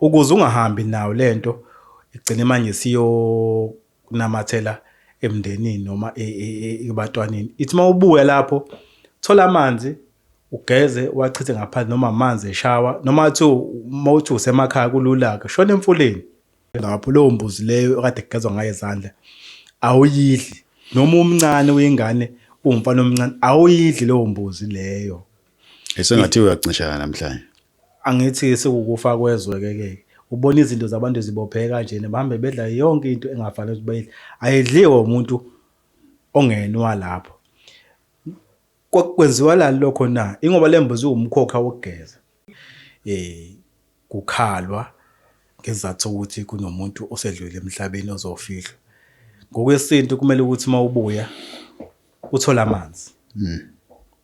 ukuze ungahambi nayo lento igcine manje siyokunamathela emndenini noma e, e, e, ebantwaneni ithi uma ubuya lapho thola amanzi ugeze wachithe ngaphansi noma amanzi eshawa noma athi uma uthi usemakhaya kulula-ke shona emfuleni lapho leyo mbuzi leyo okade kugezwa ngayo izandla awuyidli noma umncane uyingane uwumfana omncane awuyidli leyo mbuzi leyo esengathi uyacinshana namhlanje Angithi sikukufa kwezwe ke ke. Ubona izinto zabantu zibopheke kanjena bahambe bedla yonke into engafanele ukuthi bayidle. Ayidliwe umuntu ongenwa lapho. Kwenziwa lani lokho na? Ingoba lembuzi iwumkhokha wokugeza. Eh kukhalwa ngezathu ukuthi kunomuntu osedlule emhlabeni ozofihlwa. Ngokwesintu kumele ukuthi mawubuya uthole amanzi. Hmm.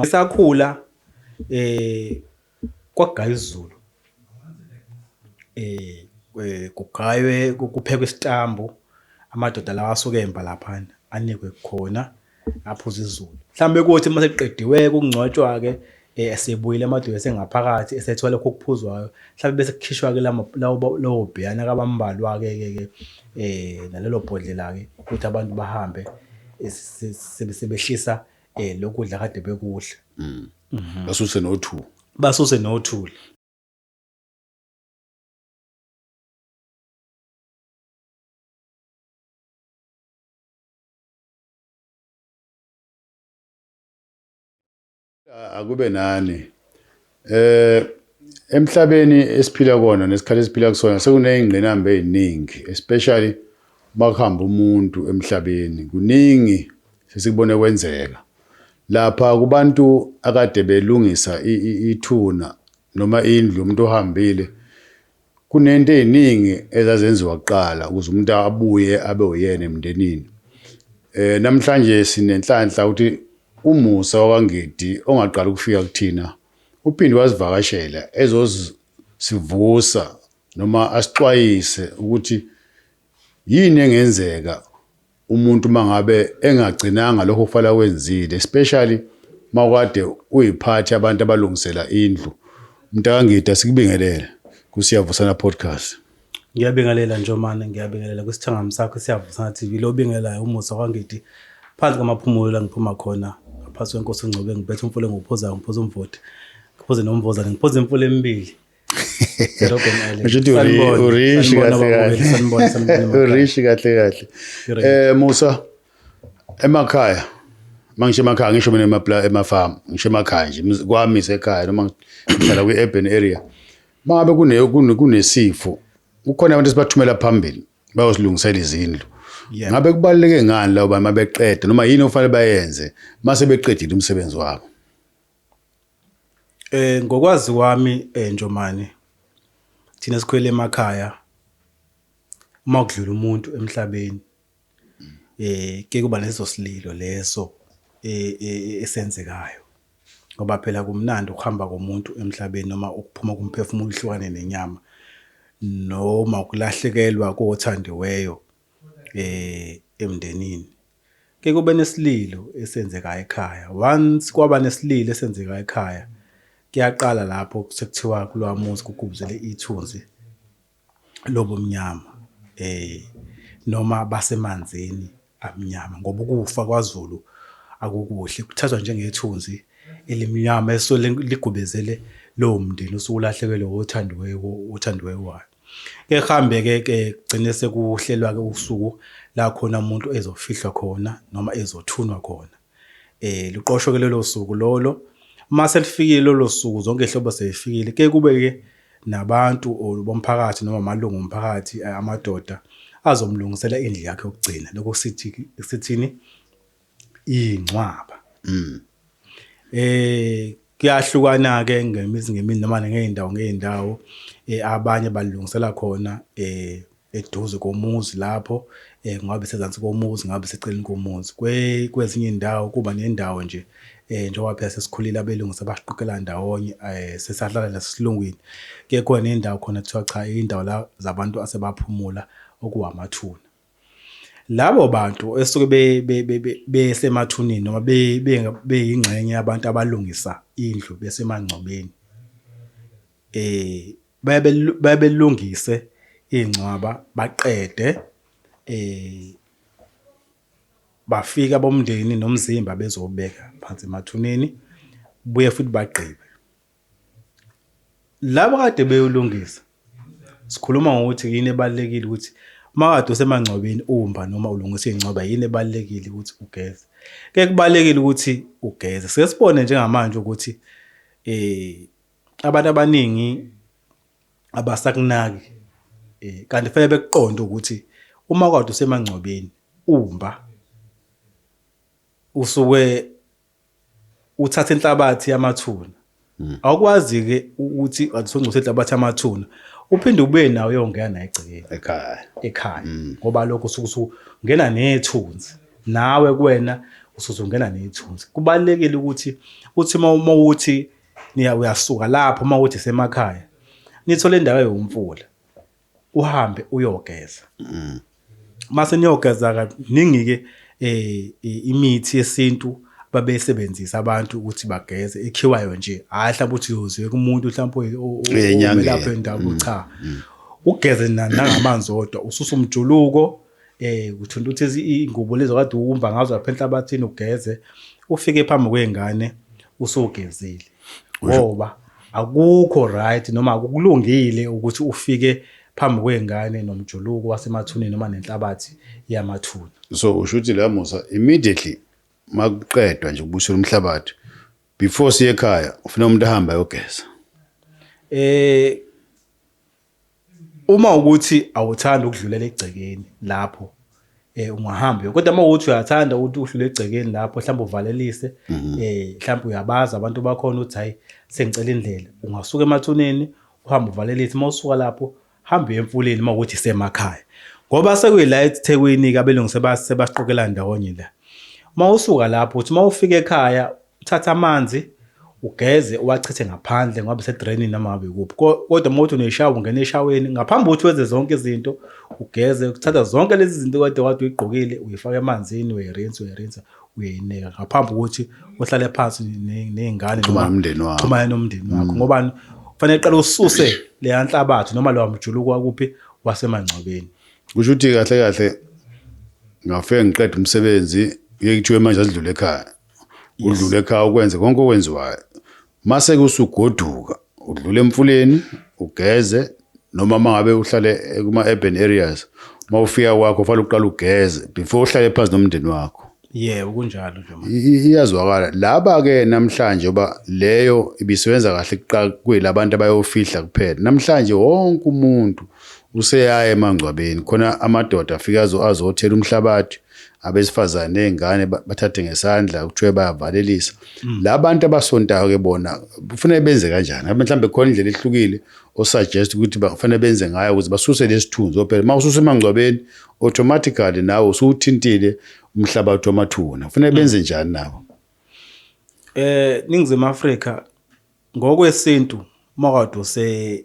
Ngisakhula eh kwagaya isiZulu. Eh kugaywe kuphekwe isitambu amadoda lawa asuke emba laphana anikwe khona aphuze isiZulu. Mhlawumbe kuthi uma sekuqediwe kungcwatshwa-ke esebuyile amadoda esengaphakathi esethola lokho okuphuzwayo. Mhlawumbe bese kukhishwa-ke lawo bheyana-ke abambalwa-ke-ke nalelo bhodlela-ke ukuthi abantu bahambe sebehlisa. eh lokudla kade bekudla mm. mhm. basuse no 2 basuse no 2 akube nani Eh emhlabeni esiphila kona nesikhathi esiphila kusona sekuneyingqinamba eziningi especially makuhamba umuntu emhlabeni kuningi sesikubone kwenzeka lapha kubantu akade belungisa ithuna noma indlu umuntu ohambile Kunento eziningi ezazenziwa kuqala ukuze umuntu abuye abe uyena emndenini. Eh namhlanje sinenhlanhla ukuthi umusa wakwaNgidi ongaqala ukufika kuthina uphinde wasivakashela ezosivusa noma asixwayise ukuthi yini engenzeka Umuntu mangabe engagcinanga lokho kufanele akwenzile especially mawukade uyiphathi abantu abalungisela indlu. Mntakangida sikubingelele kuSiyavusana Podcast. Ngiyabingelela Njomane, ngiyabingelela kwisithangami sakho Siyavusana TV. Lo bingelayo umusa kwangidi phansi kwamaphumulo la ngiphuma khona ngaphansi kwenkosi uNgcobe ngiphethe umfula engiwuphuzayo ngiphuza umvoti ngiphuze nomvozane ngiphuze imfula emibili Ngishuthi urishi kahle kahle. Urishi kahle kahle. Eh Musa emakhaya mangisho emakhaya ngisho mina emapla emafarm ngisho emakhaya nje kwami sekhaya noma ngihlala kwi urban area mangabe kune kunesifo kukhona abantu esibathumela phambili bayosilungisela izindlu ngabe kubaluleke ngani labo babeqeda noma yini ofanele bayenze mase beqedile umsebenzi wabo Eh ngokwazi kwami eh, Njomane thina sikhwele emakhaya uma kudlula umuntu emhlabeni eh ke kuba leso sililo leso eh, eh, esenzekayo ngoba phela kumnandi ukuhamba komuntu emhlabeni noma ukuphuma kumphefumulo uhlukane nenyama noma ukulahlekelwa kothandiweyo eh emndenini Ke kube nesililo esenzeka ekhaya. Once kwaba nesililo esenzeka ekhaya, kuyaqala lapho sekuthiwa kulowa muzi kugubuzele ithunzi lobumnyama. Eh noma basemanzini amnyama ngoba ukufa kwaZulu akukuhle kuthathwa njengethunzi elimnyama esuke ligubezele lowo mndeni osuke ulahlekelwe othandiweyo othandiweyo wayo. Ke kuhambe ke ke gcine sekuhlelwa ke usuku la khona umuntu ezofihlwa khona noma ezothunwa khona. Eh luqoshwe ke lelo suku lolo. Uma selifikile lolo suku zonke izihlobo sezifikile ke kube ke nabantu or bomphakathi noma amalungu omphakathi amadoda azomlungisela indlu yakhe yokugcina. Lokho sithi sithini? ingcwaba mm. eh kuyahlukana ke ngemizi ngemini noma ngeendawo ngeendawo eh abanye balungisela khona eh eduze komuzi lapho eh ngabe sezansi komuzi ngabe seceleni komuzi kwe kwezinye indawo kuba nendawo nje eh njengoba phela sesikhulile abelungu sebashiqukela ndawonye eh sesahlala nasilungwini ke khona indawo khona kuthiwa cha indawo la zabantu asebaphumula okuwamathuna Labo bantu esuke besemathuneni noma beyingxenye yabantu abalungisa indlu besemangcwabeni, bayabe baye belungise iy'ngcwaba baqede bafike abomndeni nomzimba bezowubeka phansi emathuneni, buye futhi bagqibe. Labo kade beyolungisa sikhuluma ngokuthi yini ebalekile ukuthi makade usemangcwabeni umba noma ulungisa ingcwaba yini ebalekile ukuthi ugeze ke kubalekile ukuthi ugeze sesibone njengamanje ukuthi eh abantu abaningi abasakunaki eh kanti fanele bekuqonde ukuthi uma kade usemangcwabeni umba usuke uthatha inhlabathi yamathuna hmm. awukwazi-ke ukuthi usongcotha inhlabathi yamathuna uphinde ubuye nawo uyongena naye egcekeni ekhaya ekhaya hmm. ngoba lokho usuke ungena nethunzi nawe kuwena usuzongena nethunzi kubalekile ukuthi uthi uma uthi uyasuka lapho uma uthi semakhaya nithole indawo yomfula uhambe uyogeza mm. mase niyogeza kaningi ke eh imithi yesintu babesebenzisa abantu ukuthi bageze ekhiwayo nje hayi mhlawumbe uthi uyoziwe kumuntu mhlawumbe omelapha endawo mm, cha mm. ugeze nangamanzi odwa ususa umjuluko Eh uthunta uthi ingubo lezo kade uwumba ngazo lapha enhlabathini ugeze ufike phambi kwengane usogezile. Ngoba akukho right noma akukulungile ukuthi ufike phambi kwengane nomjuluko wasemathuneni noma nenhlabathi yamathuna. So usho ukuthi la Musa immediately makuqedwa nje ukubusela umhlabathi before siye ekhaya ufuna umuntu ahambe ayogeza. Eh Uma ukuthi awuthandi ukudlulela egcekeni lapho eh ungahamba kodwa uma uthi uyathanda ukuthi uhlule egcekeni lapho mhlawumbe uvalelise mhm. eh mhlawumbe uyabaza abantu bakhona uthi hayi sengicela indlela ungasuka emathuneni uhamba uvalelise uma usuka lapho hamba emfuleni uma ukuthi semakhaya ngoba sekuyila eThekwini ke abelungu sebasiqokela ndawonye la uma usuka lapho uthi uma ufika ekhaya Uthatha amanzi ugeze uwachithe ngaphandle ngoba sedrainini noma ngabe kuphi kodwa uma uthi uneshawa ungena eshaweni ngaphambi kokuthi wenze zonke izinto ugeze uthatha zonke lezi zinto kade wade uyigqokile uyifaka emanzini uyayirinsa uyayirinsa uyayinika ngaphambi kokuthi uhlale phansi ney'ngane xhumana nomndeni wakho xhumana nomndeni wakho mm. ngobani kufanele qala ususe leya nhlabathi noma lowa mjuluko wakuphi wasemangcwabeni kusho ukuthi kahle kahle ngafike ngiqeda umsebenzi ngeke kuthiwe manje asidlule ekhaya udlule ekhaya ukwenze konke okwenziwayo mase kusugoduka udlule emfuleni ugeze noma mangabe uhlale kuma urban areas mawufika kwakho fanele uqale ugeze before uhlale phansi nomndeni wakho yebo kunjalo nje manje I- i- iyazwakala laba ke namhlanje oba leyo ibisebenza kahle kuqala kuyelabantu abayofihla kuphela namhlanje wonke umuntu useyaye emangcwabeni khona amadoda afika azo azothela umhlabathi abesifazane nezingane bathathe ngesandla kuthiwe bayavalelisa mm. la bantu abasontayo ke bona kufanele benze kanjani mhlawumbe khona indlela ehlukile osuggest ukuthi bafanele benze ngayo ukuze basuse lesithunzi ophela uma ususe emangcwabeni automatically nawe usuthintile umhlabathi wamathuna kufanele mm. benze njani nabo eh ningizimu Afrika ngokwesintu makade use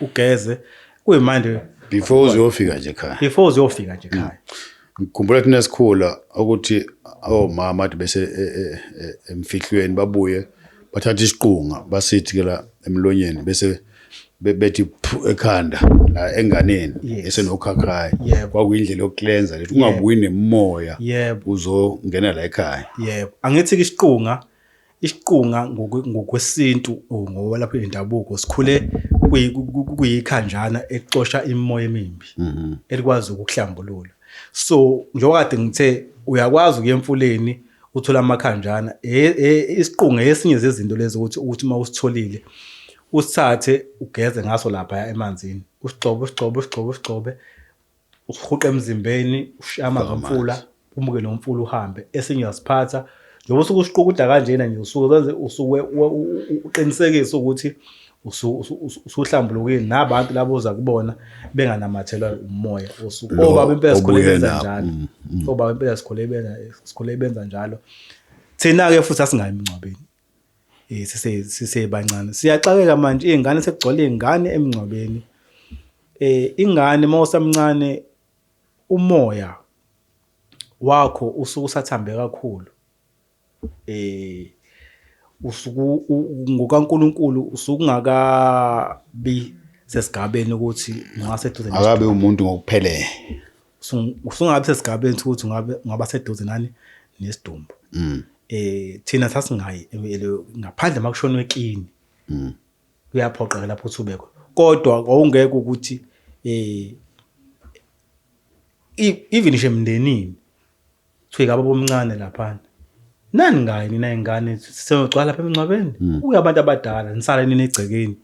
ugeze kuyimanje before uzofika nje ekhaya before uzofika nje ekhaya mm. ngikhumbula thina esikhula ukuthi omama athi bese e, e, e, emfihlweni babuye bathatha isiqunga basithi ke la emlonyeni bese bethi ekhanda la enganeni esenokhakhayi kwakuyindlela yokulenza lethi ungabuyi nemoya uzongena la ekhaya yebo angithi ke isiqunga isiqunga ngokwesintu or ngokwelapha indabuko sikhule kuyikhanjana ecosha imimoya emimbi mhm. elikwazi ukuhlambulula so njengoba kade ngithe uyakwazi ukuya emfuleni uthola amakhanjana e, e, isiqunga esinye zezinto lezi ukuthi ukuthi uma usitholile usithathe ugeze ngaso lapha emanzini usigxobe usigxobe usigxobe usigxobe usihuqa emzimbeni ushiye amanzi omfula umuke nomfula uhambe esinye uyasiphatha njengoba usuke usiqukuda kanjena nje usuke wenze usuke uqinisekise ukuthi usuhlambulukile nabantu labo oza kubona benganamathelwa umoya osuke obaba impela sikhule benza njalo mm, mm. obaba impela sikhule benza sikhule benza njalo thina ke futhi asingayi emngcwabeni Eh, sise sisebancane siyaxakeka manje iy'ngane sekugcwala iy'ngane emngcwabeni eh ingane uma usamncane umoya wakho usuke usathambe kakhulu eh usuku ngokaNkuluNkulu usuke ungakabi sesigabeni ukuthi ungaseduze akabe umuntu ngokuphelele usungabe sesigabeni sokuthi ngabe ngaba seduze nani nesidumbu mm. eh thina sasingayi ngaphandle makushona ekini mm. kuyaphoqeka lapho uthubeko kodwa awungeke ukuthi eh even nje emndenini Chika baba omncane laphana. Nani ngayi nina ingane siyogcwala lapha emngcwabeni. Hmm. Kuya abantu abadala nisala nina egcekeni.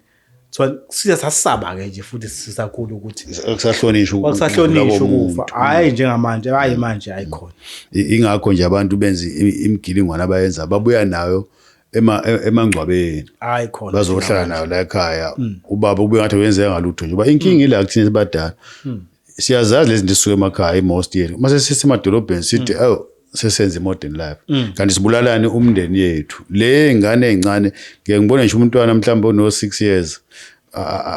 So siya sasaba ke nje futhi sisakhulu ukuthi kusahlonishwa ukuthi kusahlonishwa ukufa. Hayi njengamanje hayi manje hayi khona. Ingakho nje abantu benza imigilingwana abayenza babuya nayo ema e, emangcwabeni hayi khona bazohlala nayo la ekhaya hmm. ubaba kube ngathi wenzeka ngalutho nje uba inkinga hmm. ila kuthina sibadala siyazazi lezi zinto sisuke emakhaya i-most yethu uma sesisemadolobheni sithi mm. oh sesenza i-modern life mm. kanti sibulalani umndeni yethu le ngane ey'ncane ngeke ngibone ngisho umntwana mhlawumbe ono-six years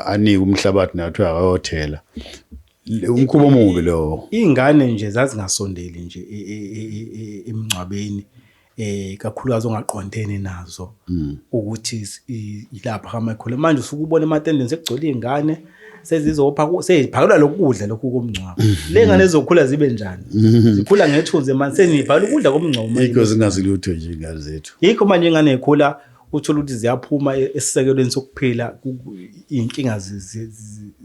anike umhlabathi nayo kuthiwa akayothela umkhuba omubi lowo iy'ngane nje zazingasondeli nje e, e, e, emngcwabeni eh kakhulukazi ongaqondene nazo mm. ukuthi ilapha kamakhulu manje usuke ubona ematendeni sekugcwele izingane sezizopha seziphakelwa lokudla lokhu komngcwabo mm. le ngane ezokhula zibe njani mm. zikhula ngethunzi manje seniphakelwa ukudla komngcwabo manje ikho zingazi lutho nje ingane zethu ikho manje ingane ekhula uthola ukuthi ziyaphuma e-, esisekelweni sokuphila inkinga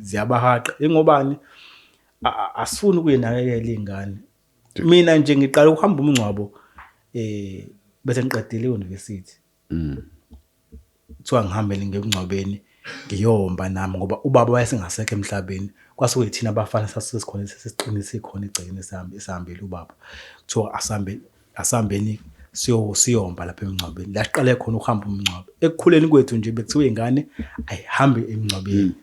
ziyabahaqa ingobani asifuni ukuyinakekela ingane mina nje ngiqala ukuhamba umngcwabo eh bese ngiqedile university mm kuthiwa ngihambele ngemngcwabeni ngiyomba nami ngoba ubaba wayesengasekho emhlabeni kwasuke yithina abafana sasisikhona sesiqinise khona igcine sami esihambile ubaba kuthiwa asambe asambeni siyo siyomba lapha emngcwabeni la siqale khona ukuhamba umngcwabo ekukhuleni kwethu nje bekuthiwa ingane ayihambe emngcwabeni mm.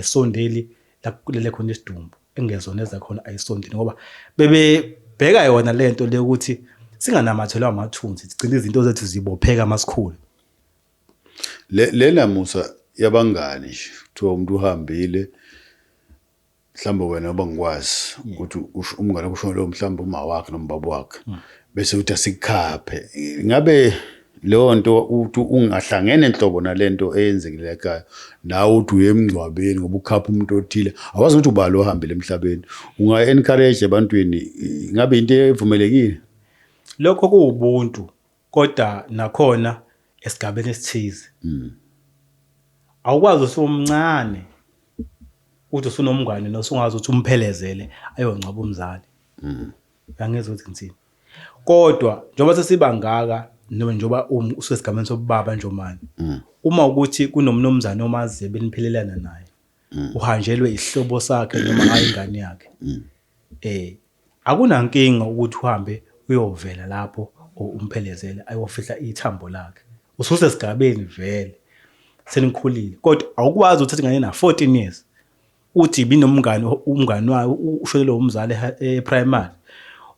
esondeli la kulele khona isidumbu engezona ezakhona ayisondini ngoba bebebheka yona le nto le ukuthi singanamathelwa amathunzi sigcine izinto zethu zibopheka masikhulu le lena musa yabangani nje kuthiwa umuntu uhambile mhlawumbe wena uba ngikwazi ukuthi umngane kusho lo mhlawumbe uma wakhe noma baba wakhe hmm. bese uthi asikhaphe ngabe leyo nto ukuthi ungahlangene nhlobo nale nto eyenzekile ekhaya nawe uthi uye emngcwabeni ngoba ukhapha umuntu othile awazi ukuthi ubali ohambile emhlabeni unga-encourage ebantwini ingabe into evumelekile lokho kuwubuntu kodwa nakhona esigabeni esithize hmm. awukwazi usumncane uthi usunomngane nosungazi ukuthi umphelezele ayongcwaba umzali hmm. angizwe ukuthi ngithini kodwa njengoba sesibangaka noma njengoba um, usesigameni sobubaba njomane mm. uma ukuthi kunomnumzane omaziyo beniphelelana naye mm. uhanjelwe isihlobo sakhe noma hayi ingane yakhe mm. eh akunankinga ukuthi uhambe uyovela lapho umphelezele ayofihla ithambo lakhe ususe sigabeni vele senikhulile kodwa awukwazi uthatha ingane na 14 years uthi ibinomngani umngani wayo ushelelwe umzali eprimary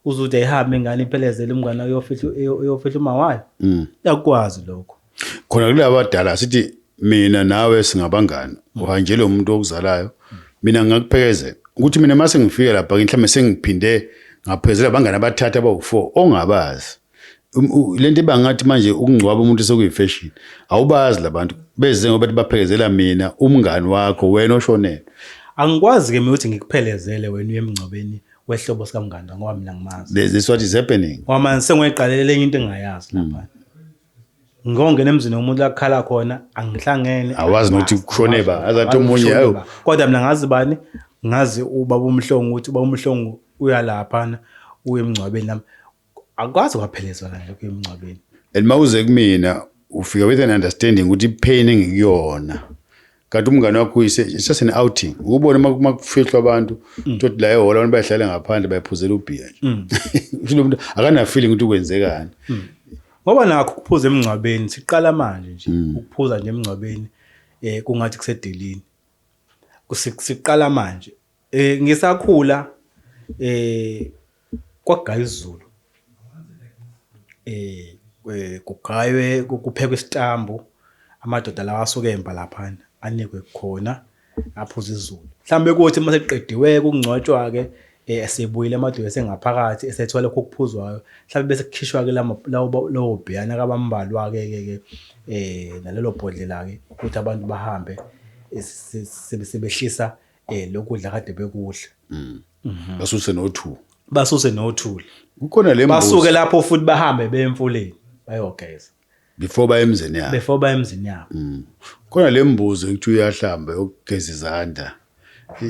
uze uthi ayihambe ingane iphelezele umngane uyofihla uma wayo mm. yakwazi lokho khona kule abadala sithi mina nawe singabangani mm. uhanjele umuntu okuzalayo mina ngingakuphekezela ukuthi mina uma sengifike lapha mhlawumbe sengiphinde ngaphezela abangani abathathu abawu-four ongabazi Um, lento ibangathi manje ukungcwaba umuntu sekuyifashion awubazi labantu beze ngoba baphekezela mina umngani wakho wena oshonelwe angikwazi ke mina ukuthi ngikuphelezele wena uyemngcwabeni wehlobo sikamnganda ngoba mina ngimazi this is what is happening ngoba manje sengiyiqalelela enye into engingayazi lapha hmm. ngongena emzini womuntu lakukhala khona angihlangene awazi nokuthi kushone ba azathi omunye ayo kodwa mina ngazi bani ngazi ubaba umhlongo ukuthi ubaba umhlongo uyalaphana uye emngcwabeni nami akwazi kwaphelezwa kanje kuyemngcwabeni and mawuze kumina ufike with an understanding ukuthi ipain engikuyona kanti umngane wakho uyise it's just an outing ukubona uma uma kufihlwa abantu Mm. tothi la ehholo abantu bayahlala ngaphandle bayaphuzela ubhiya nje Mm. Kusho lo muntu akana feeling ukuthi kwenzekani ngoba nakho ukuphuza emngcwabeni siqala manje nje Mm. ukuphuza nje emngcwabeni eh kungathi kusedelini Kusi- siqala manje Eh ngisakhula eh kwagaya izulu. Eh kugaywe kuphekwe isitambu amadoda lawa asuke emba lapha anikwe khona aphuza izulu. Mhlambe kuthi uma sekuqediwe kungcwatshwa ke eh, esebuyile amadoda esengaphakathi esethola lokho kuphuzwayo mhlambe bese kukhishwa ke lawo lawo bhiyana kabambalwa ke ke ke eh nalelo bhodlela ke ukuthi abantu bahambe sebehlisa eh lokudla kade bekudla mm. mhm. basuse nothu basuse nothuli kukhona le basuke lapho futhi bahambe bemfuleni bayogeza before baye emzini yabo before baye emzini yabo mm. khona le mbuzi ukuthi uyahlamba yokugeza izandla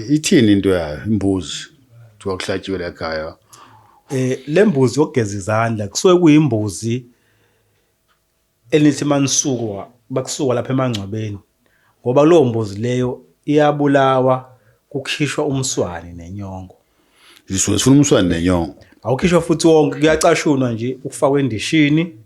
ithini into yayo imbuzi kuthiwa kuhlatshiwe la khaya eh le mbuzi yokugeza izandla kusuke kuyimbuzi Elithi manisukwa bakusukwa lapha emangcwabeni ngoba kuleyo mbuzi leyo iyabulawa kukhishwa umswane nenyongo. Zisuke zifuna umswane nenyongo. Awukhishwa futhi wonke kuyacashunwa nje ukufakwa endishini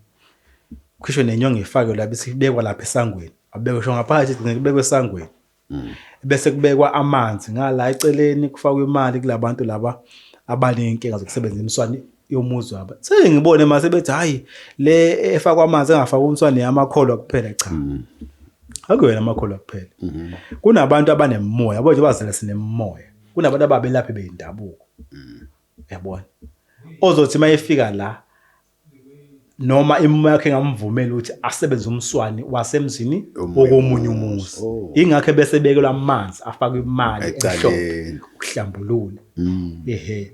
kukhishwe nenyongo ifakwe lapha isibekwa lapha esangweni. Abekwe sho ngaphakathi igcine kubekwe esangweni. mm. bese kubekwa amanzi ngala eceleni kufakwa imali kulabantu laba abanenkinga zokusebenzisa imswani yomuzi wabo sengibone mase bethi hayi le efakwa amanzi engafakwa umswani yamakholwa kuphela cha mm. akuyona amakholwa kuphela mm-hmm. kunabantu abanemoya yabo nje bazela sinemoya kunabantu ababelaphi bendabuko mm. yabona ozothi mayefika la noma imumo yakhe engamvumeli ukuthi asebenze umswani wasemzini okomunye umuzi oh. ingakho bese bekelwa amanzi afakwe imali ehlombe ukuhlambulula mm. ehe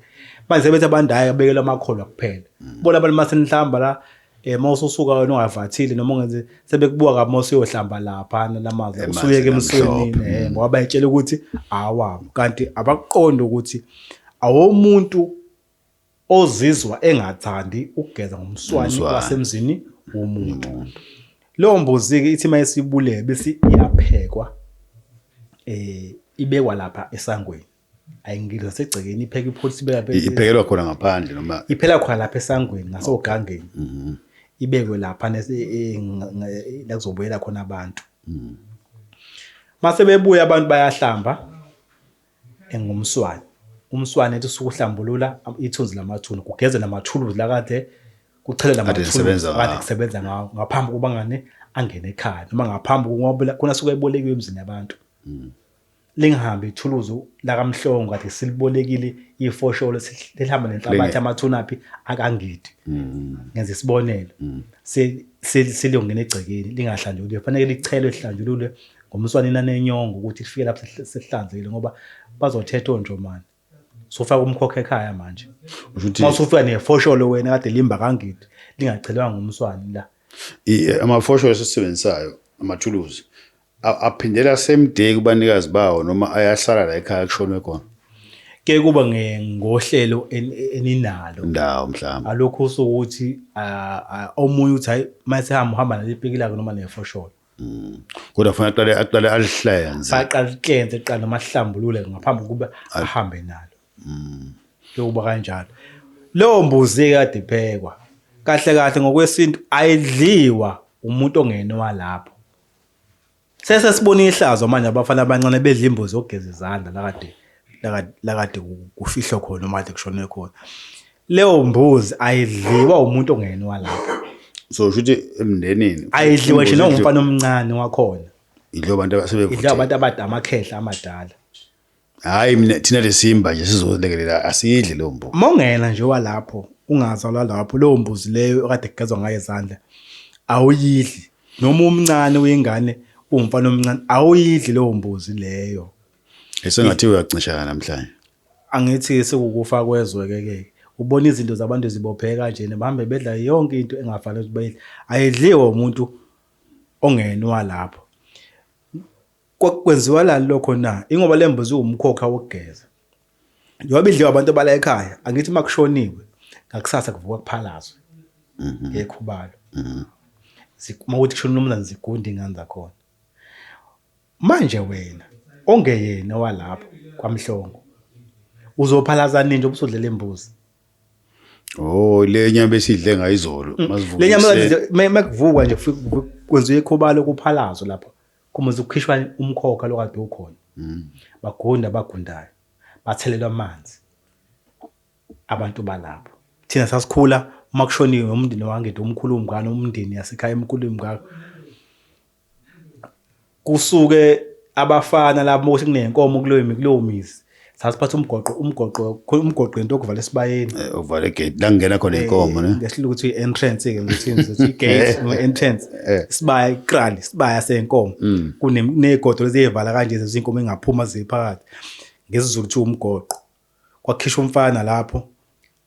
manje sebethi abandayo bekelwa amakholwa kuphela mm. bona abantu masenhlamba la eh mawususuka wena ungavathile noma ungenze sebekubuka kabi mawusuyohlamba lapha nalamazi usuyeke emsweni eh mm. ngoba bayitshela ukuthi awabo kanti abakuqonda ukuthi awomuntu ozizwa engathandi ukugeza ngomswani wasemzini womuntu leyo mbuzi-ke ithi uma isibulele bese iyaphekwa um ibekwa lapha esangweni ayingidla segcekeni ipheke ipholisa ibeka iphekelwa khona ngaphandle noma iphela khona lapha esangweni ngasogangeni mhm. ibekwe lapha e, la kuzobuyela khona abantu mase bebuya abantu bayahlamba engumswane umswane ethi usuke uhlambulula ithunzi lamathuna kugeze namathuluzi lakade kuchelela amathuluzi kade kusebenza ngawo ngaphambi kokuba ngane angene ekhaya noma ngaphambi kokuba khona suke ebolekiwe emzini yabantu mm. lingihambe ithuluzi lakamhlongo kade silibolekile ifosholo lihamba nenhlabathi amathuna phi akangidi mm. ngenza isibonelo mm. seliyongena egcekeni lingahlanjululwe kufanele lichelwe lihlanjululwe ngomswane inani enyongo ukuthi lifike lapho sesihlanzile ngoba bazothetha onjomane sofaka umkhokha ekhaya manje uma usufika nefosholo wena kade limba kangidi lingachelwanga umswane la eh, amafosholo esisebenzisayo amathuluzi aphindela same day kubanikazi bawo noma ayahlala la ekhaya kushonwe khona ke kuba ngohlelo eninalo ndawo mhlawumbe alokho usukuthi omunye uthi hayi mayesehamba uhamba nalipiki lakhe noma nefosholo Mm. Kodwa kufanele aqale aqale alihlenze. Aqale alihlenze aqale amahlambulule ngaphambi kokuba ahambe nalo. Mm. Kuyoba kanjalo. Leyo mbuzi ekade iphekwa kahle kahle ngokwesintu ayidliwa umuntu ongenwa lapho. Sese sibona ihlazo manje abafana abancane bedla imbuzi yokugeza izandla lakade lakade kufihlwe khona uma kade kushone khona. Leyo mbuzi ayidliwa umuntu ongeni walapha. So usho ukuthi emndenini Ayidliwa nje noma umfana omncane wakhona. idlo abantu Idliwa abasebevuthile. abantu abada amakhehla amadala. Hayi mina thina lesimba nje sizolekelela asidli leyo mbuzi. Uma ungena nje walapho ungazalwa lapho leyo mbuzi leyo okade kugezwa ngayo izandla awuyidli noma umncane uyingane uwumfana omncane awuyidli leyo mbuzi leyo. Esengathi uyacincishana namhlanje. Angithi sekukufa kwezwe ke ke. Ubona izinto zabantu zibopheke kanje bahambe bedla yonke into engafanele ukuthi bayidle. Ayidliwe umuntu ongenwa lapho. Kwenziwa la lokho na? Ingoba lembuzi umkhokha wokugeza. Njengoba idliwa abantu abala ekhaya, angithi makushoniwe ngakusasa kuvuka kuphalazwe. Mhm. Ekhubalo. Mhm. Uma ukuthi kushona umnumzane zigunda ingane zakhona. Manje wena ongeyena owalapho kwaMhlongo uzophalaza nini njengoba usudlela imbuzi? Oh le nyama esidle ngayo izolo Mm. masivuke. Le nyama ekuseni. kanje me- mekuvukwa nje kufike kuvu- kwenziwe ikhobalo kuphalazo lapho. Kumuze kukhishwa umkhokha lokade ukhona. Mm. Bagunda abagundayo. Bathelelwa amanzi. Abantu balapho. Thina sasikhula uma kushoniwe umndeni wangede umkhulu umngane umndeni yasekhaya emkhulu umngaka. kusuke abafana labo ukuthi kunenkomo kuleyo kuleyo mizi sasiphatha umgoqo umgoqo umgoqo into okuvala esibayeni eh, uvala igate la ngena khona eh, inkomo ne ngehlile ukuthi entrance ke ukuthi ngizothi igate eh. no entrance sibaya ikrali sibaya senkomo mm. kunegodo leziyevala kanje zezinkomo engaphuma ziphakathi ngesizulu kuthiwa umgoqo kwakhishwa umfana lapho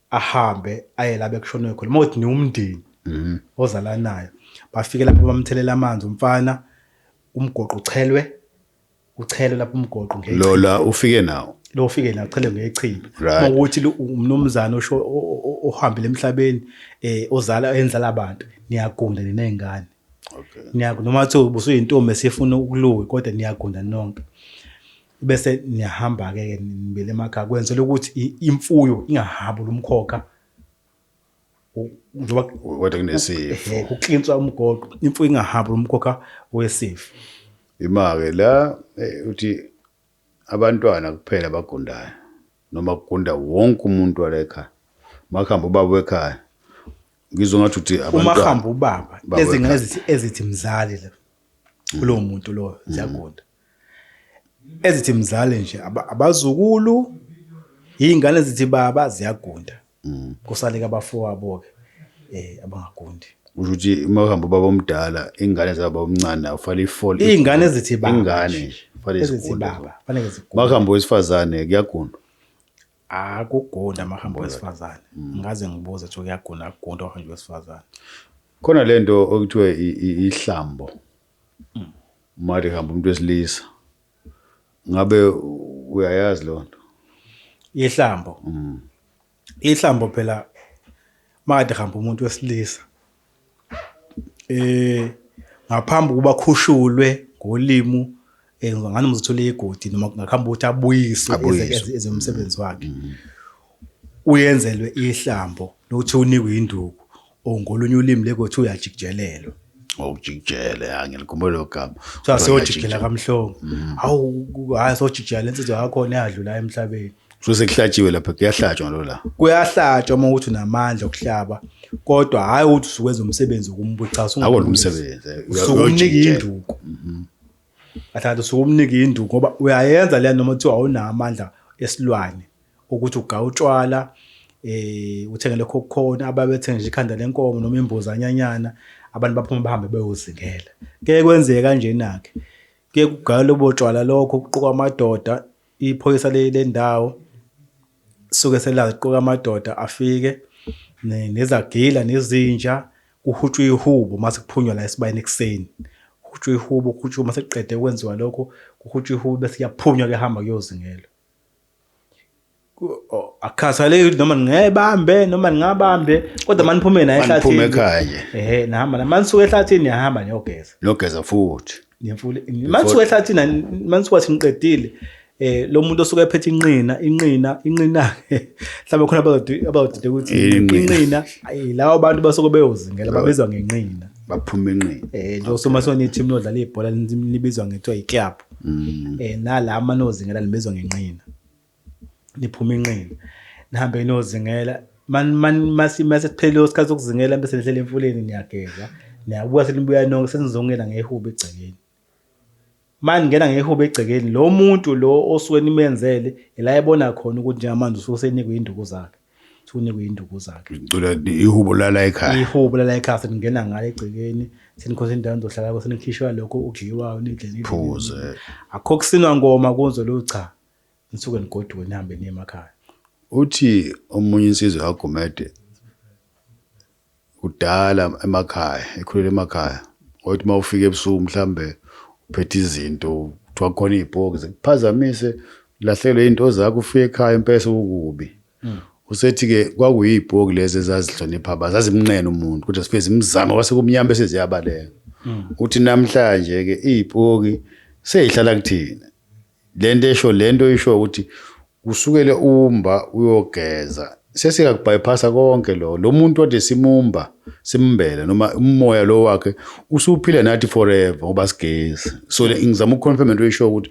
ahambe aye la bekushonwe khona uma uthi niwumndeni mhm. ozalanayo bafike lapho bamthelela amanzi umfana umgoqo uchelwe uchelwe lapho umgoqo ngeke lo la ufike nawo lo ufike nawo uchelwe ngechibi uma ukuthi umnumzane osho ohambile emhlabeni eh ozala enzala abantu niyagunda ninezingane okay niyagunda noma uthi busuyintombi esifuna ukuluwe kodwa niyagunda nonke bese niyahamba-ke ke nibele emakhaya kwenzela ukuthi imfuyo ingahabi lumkhokha njengoba kodwa kunesifo eh, kuklinswa umgoqo imfuyo ingahabi lumkhokha wesifo imake la eh, uthi abantwana kuphela abagundayo noma kugunda wonke umuntu wala ekhaya makuhamba ubaba wekhaya ngizwe ngathi uthi abantwana uma hamba ubaba lezingane ezithi ezithi mzali la kulowo muntu loyo ziyagunda ezithi mzali nje aba- abazukulu iy'ngane ezithi baba ziyagunda Mm. kusaleka abafowabo-ke um abangagundi usho ukuthi uma uhamba ubaba omdala iy'ngane zababa omncane nayo kufanele ifole iy'ngane ezithi baba iy'ngane nje, nje kufanele ezithi zigunde baba faneke zigunde uma kuhamba owesifazane kuyagundwa akugunda amahambo wesifazane Mm. ngaze ngibuze kuthiwa kuyagunda akugunda uhambo wesifazane khona le nto okuthiwa i- i- ihlambo Mali hamba umuntu wesilisa. Ngabe uyayazi lonto? Ihlambo. Mm. Ihlambo phela makade hamba umuntu wesilisa. Eh ngaphambi kuba khushulwe ngolimu Eh, ngani muzithola igodi noma kungakhamba ukuthi abuyiswe eze umsebenzi wakhe mm-hmm. uyenzelwe ihlambo lokuthi unikwe induku or ngolunye ulimi lekothi uyajikijelelwa ngokujikijele oh, angilikhumbule lo gama kuthiwa siyojikijela kamhlongo mm-hmm. hawu hhayi sojikijela le nsizwa yakhona eyadlula emhlabeni so sekuhlatshiwe lapha kuyahlatshwa lo la kuyahlatshwa uma ukuthi unamandla okuhlaba kodwa hhayi ukuthi usukwenza umsebenzi wokumbuchaza awona umsebenzi usukunika induku mm-hmm. Athanda usuke umnika induku ngoba uyayenza leya noma kuthiwa awunawo amandla esilwane ukuthi ugawu utshwala eh uthenge lokho okukhona ababethenga nje ikhanda lenkomo noma imbuzi anyanyana abantu baphuma bahambe beyozingela ke kwenzeka kanjena ke ke kugaywa lobo tshwala lokho kuqoka amadoda Iphoyisa lendawo suke selaziqoka amadoda afike nezagila nezinja kuhutshwa ihubo mase kuphunywa la esibayeni ekuseni kuhutshwa ihubo kuhutshwa uma sekuqede kwenziwa lokho kuhutshwa ihubo bese kuyaphunywa kuyahamba kuyozingela akukhathaleki noma ngingayibambe noma ngingabambe kodwa maniphume naye ehlathini niphume ekhaya ehe nihamba manisuka ehlathini niyahamba niyogeza niyogeza futhi ngemfula manje wehlathi na manje kwathi ngiqedile eh lo muntu osuke ephethe inqina inqina inqina mhlawumbe khona abazodi abazodide ukuthi inqina ayi lawo bantu basuke beyozingela babizwa ngenqina baphuma enqina eh nje usoma sona i-team lodlala ibhola libizwa ngethiwa i-club mm. eh nala amanozingela libizwa ngenqina niphuma inqina nihambe niyozingela masiphelile isikhathi sokuzingela bese nihlela emfuleni niyageza niyabuya senibuya nonke senizongena ngehubo egcekeni manje ngena ngehubo egcekeni lo muntu lo osuke nimenzele ila ebona khona ukuthi njengamanje usuke senikwe induku zakhe usunikwe induku zakhe ngicela ihubo lala ekhaya ihubo lala ekhaya seningena ngale egcekeni senikhonza indawo nizohlala kho senikhishwa lokho okudliwayo nidlela phuze akho kusinwa ngoma kunzo lo cha Nisuke nigoduke nihambe niye emakhaya. Uthi omunye insizwa kaGumede kudala emakhaya, ekhulele emakhaya. Wathi uma ufika ebusuku mhlambe uphethe izinto, kuthiwa khona iy'poki zikuphazamise, ulahlekelwe iy'nto zakho, ufike ekhaya impela sekukubi. Hmm. Usethi-ke kwakuyiy'poki lezi ezazihlonipha abantu, zazimnqena umuntu kodwa zifike zimzame kwase kumnyama bese ziyabaleka. Hmm. Uthi namhlanje-ke iy'poki sey'hlala kuthina. lento esho lento isho ukuthi kusukele umba uyogeza sesiyakubhayphasa konke lo lo muntu wade simumba simbele noma umoya lo wakhe usuphila nathi forever ngoba sigezi so le- ngizama ukuconfirm into esho ukuthi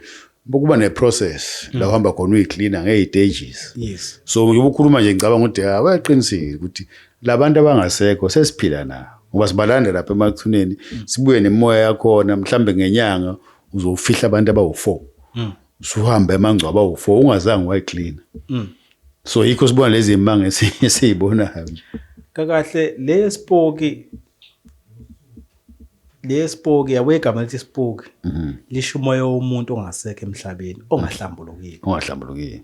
kuba neprocess la uhamba khona uyicleaner ngey'tages yes so ngibe ukhuluma nje ngicabanga ukuthi ha wayaqinisile ukuthi labantu abangasekho sesiphila nabo ngoba sibalanda lapha emathuneni sibuye nemoya yakhona mhlambe ngenyanga uzofihla abantu abawu-four mm. usuhambe amangcwaba awu-four ungazange wayiklina mm. so yikho sibona lezi manga esiyibonayo nje kakahle le spoki le spoki yabo igama lithi spoki mhm. lisho umoya womuntu ongasekho emhlabeni ongahlambulukile ongahlambulukile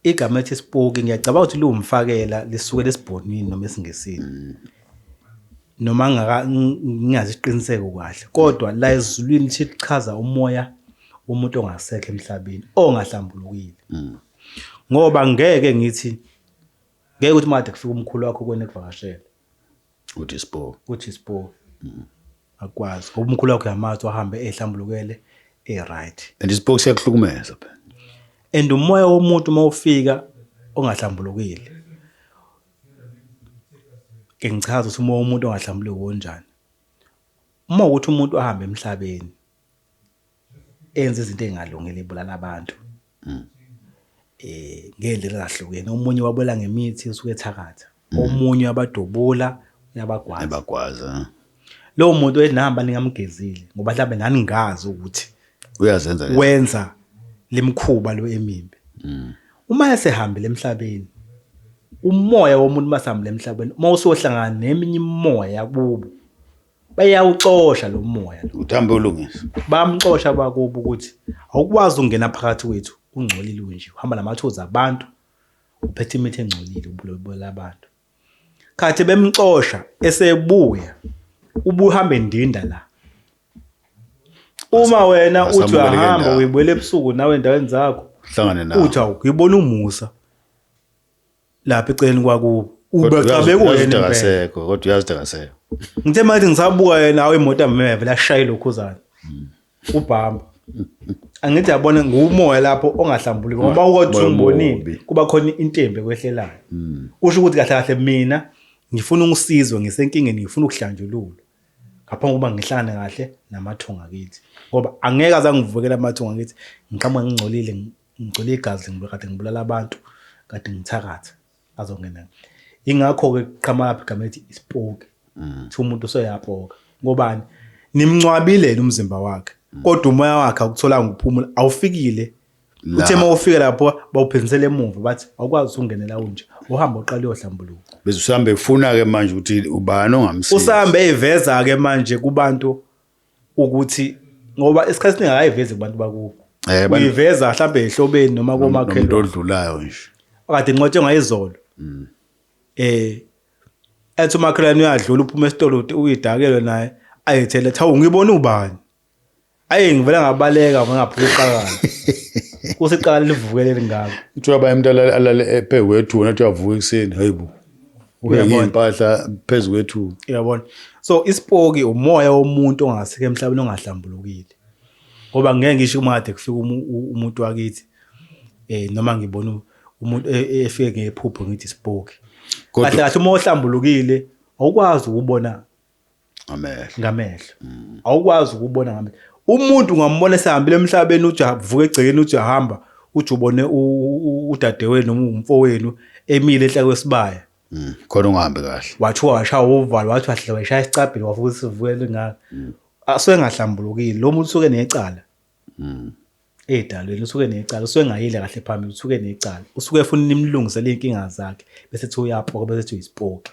Igama ethi isipoki ngiyacabanga ukuthi liwumfakela lisuke lesibhonini noma esingesini. Mm. Noma ngaka ngingazi isiqiniseko kahle kodwa la ezulwini lithi lichaza umoya womuntu ongasekho emhlabeni ongahlambulukile. Mm. Ngoba ngeke ngithi ngeke ukuthi made kufika umkhulu wakho kwena ekuvakashela. uthi spo uthi spo mm. akwazi ngoba umkhulu wakho yamazi wahambe ehlambulukele e-right and ispo siyakuhlukumeza phela and umoya womuntu uma ufika ongahlambulukile ke ngichaza ukuthi umoya womuntu ongahlambuluki wonjani uma ukuthi umuntu ahamba emhlabeni enza izinto engalungile ibulala abantu mm. eh ngendlela ezahlukene omunye wabula ngemithi esuke ethakatha mm. omunye abadubula uyabagwaza ebagwaza lowo muntu enihamba ningamgezile ngoba mhlawumbe naningazi ukuthi uyazenza wenza lemkhuba lo emimbi mm. uma esehambile emhlabeni umoya womuntu masihambile emhlabeni uma usohlangana neminye imoya kubo bayawuxosha lo moya lo uthambe ulungisa bamxosha abakubo ukuthi awukwazi ukungena phakathi kwethu ungcolile unje uhamba namathozi abantu uphethe imithi engcolile ubulobela abantu khathi bemxosha esebuya ubuhambe ndinda la uma wena uthi asamukele uyahamba ndawo. uyibuyela ebusuku nawe endaweni zakho hlangane nawo uthi awukuyibona umusa lapha eceleni kwakubo ubecabe kuyena akasekho kodwa uyazi akasekho ngithe manje ngisabuka yena awu imoto ameve lashaye lokhuzana hmm. ubhamba angithi yabona ngumoya lapho ongahlambuli ngoba ukothi umbonile kuba khona intembe kwehlelayo hmm. kusho ukuthi kahle kahle mina ngifuna ukusizwa ngisenkingeni ngifuna ukuhlanjululwa ngaphambi kokuba ngihlangane kahle namathunga kithi ngoba angeke azangivukela amathunga kithi ngiqhamuka ngingcolile Ngicwele igazi ngibe kade ngibulala abantu kade ngithakatha azongena. Ingakho-ke kuqhamakaphi igama elithi isipoki. Mm. Kuthiwa umuntu useyapoka. Ngobani? Nimncwabile yena umzimba wakhe. Mm. Kodwa umoya wakhe awukutholanga ukuphumula, awufikile. Uthe uma ufika lapho bawuphinsela emuva bathi awukwazi ukungenela unje. Uhamba uqala uyohlambuluka. Bese usambe ufuna-ke manje ukuthi ubani ongamsiza. Usambe eyiveza-ke manje kubantu ukuthi ngoba isikhathi siningi akayivezi kubantu bakubo Eh, bani- uyiveza mhlawumbe ehlobeni noma nomuntu komakhelwane odlulayo nje kade incwatshwe ngayizolo um ethi umakhelwane uyadlula uphuma esitolo uthi uyidakelwe naye ayethele athi hawu ngibona ubani ayi ngivele ngabaleka ngangaphuka iqakala kusiqala livuke leli ngako kuthiwa bayemntu alale ebhekwe ethuna kuthiwa avuka ekuseni hayi bo uyabonaimpahla phezu kwethu uyabona so isipoki umoya womuntu ongasike emhlabeni ongahlambulukile ngoba ngeke ngisho uma kade kufika umuntu wakithi eh noma ngibona umuntu e, e, efike ngephupho ngithi isipoki kahle kahle uma ohlambulukile awukwazi ukubona ngamehlo ngamehlo mm. awukwazi ukubona ngamehlo umuntu ungamubona esehambile emhlabeni ujavuka egcekeni ujahamba uthi ubone udadewenu noma umfowenu emile enhla kwesibaya mm. khona ungahambi kahle wathi washaya uvalo wathi wahle washaya isicabhile wavuka isivukele ngaka mm. asuke engahlambulukile lo muntu usuke necala Mm. Edalweni usuke necala, usuke engayile kahle phambili, usuke necala. Usuke efuna nimlungisele inkinga zakhe bese ethi uyapoka bese ethi uyisipoki.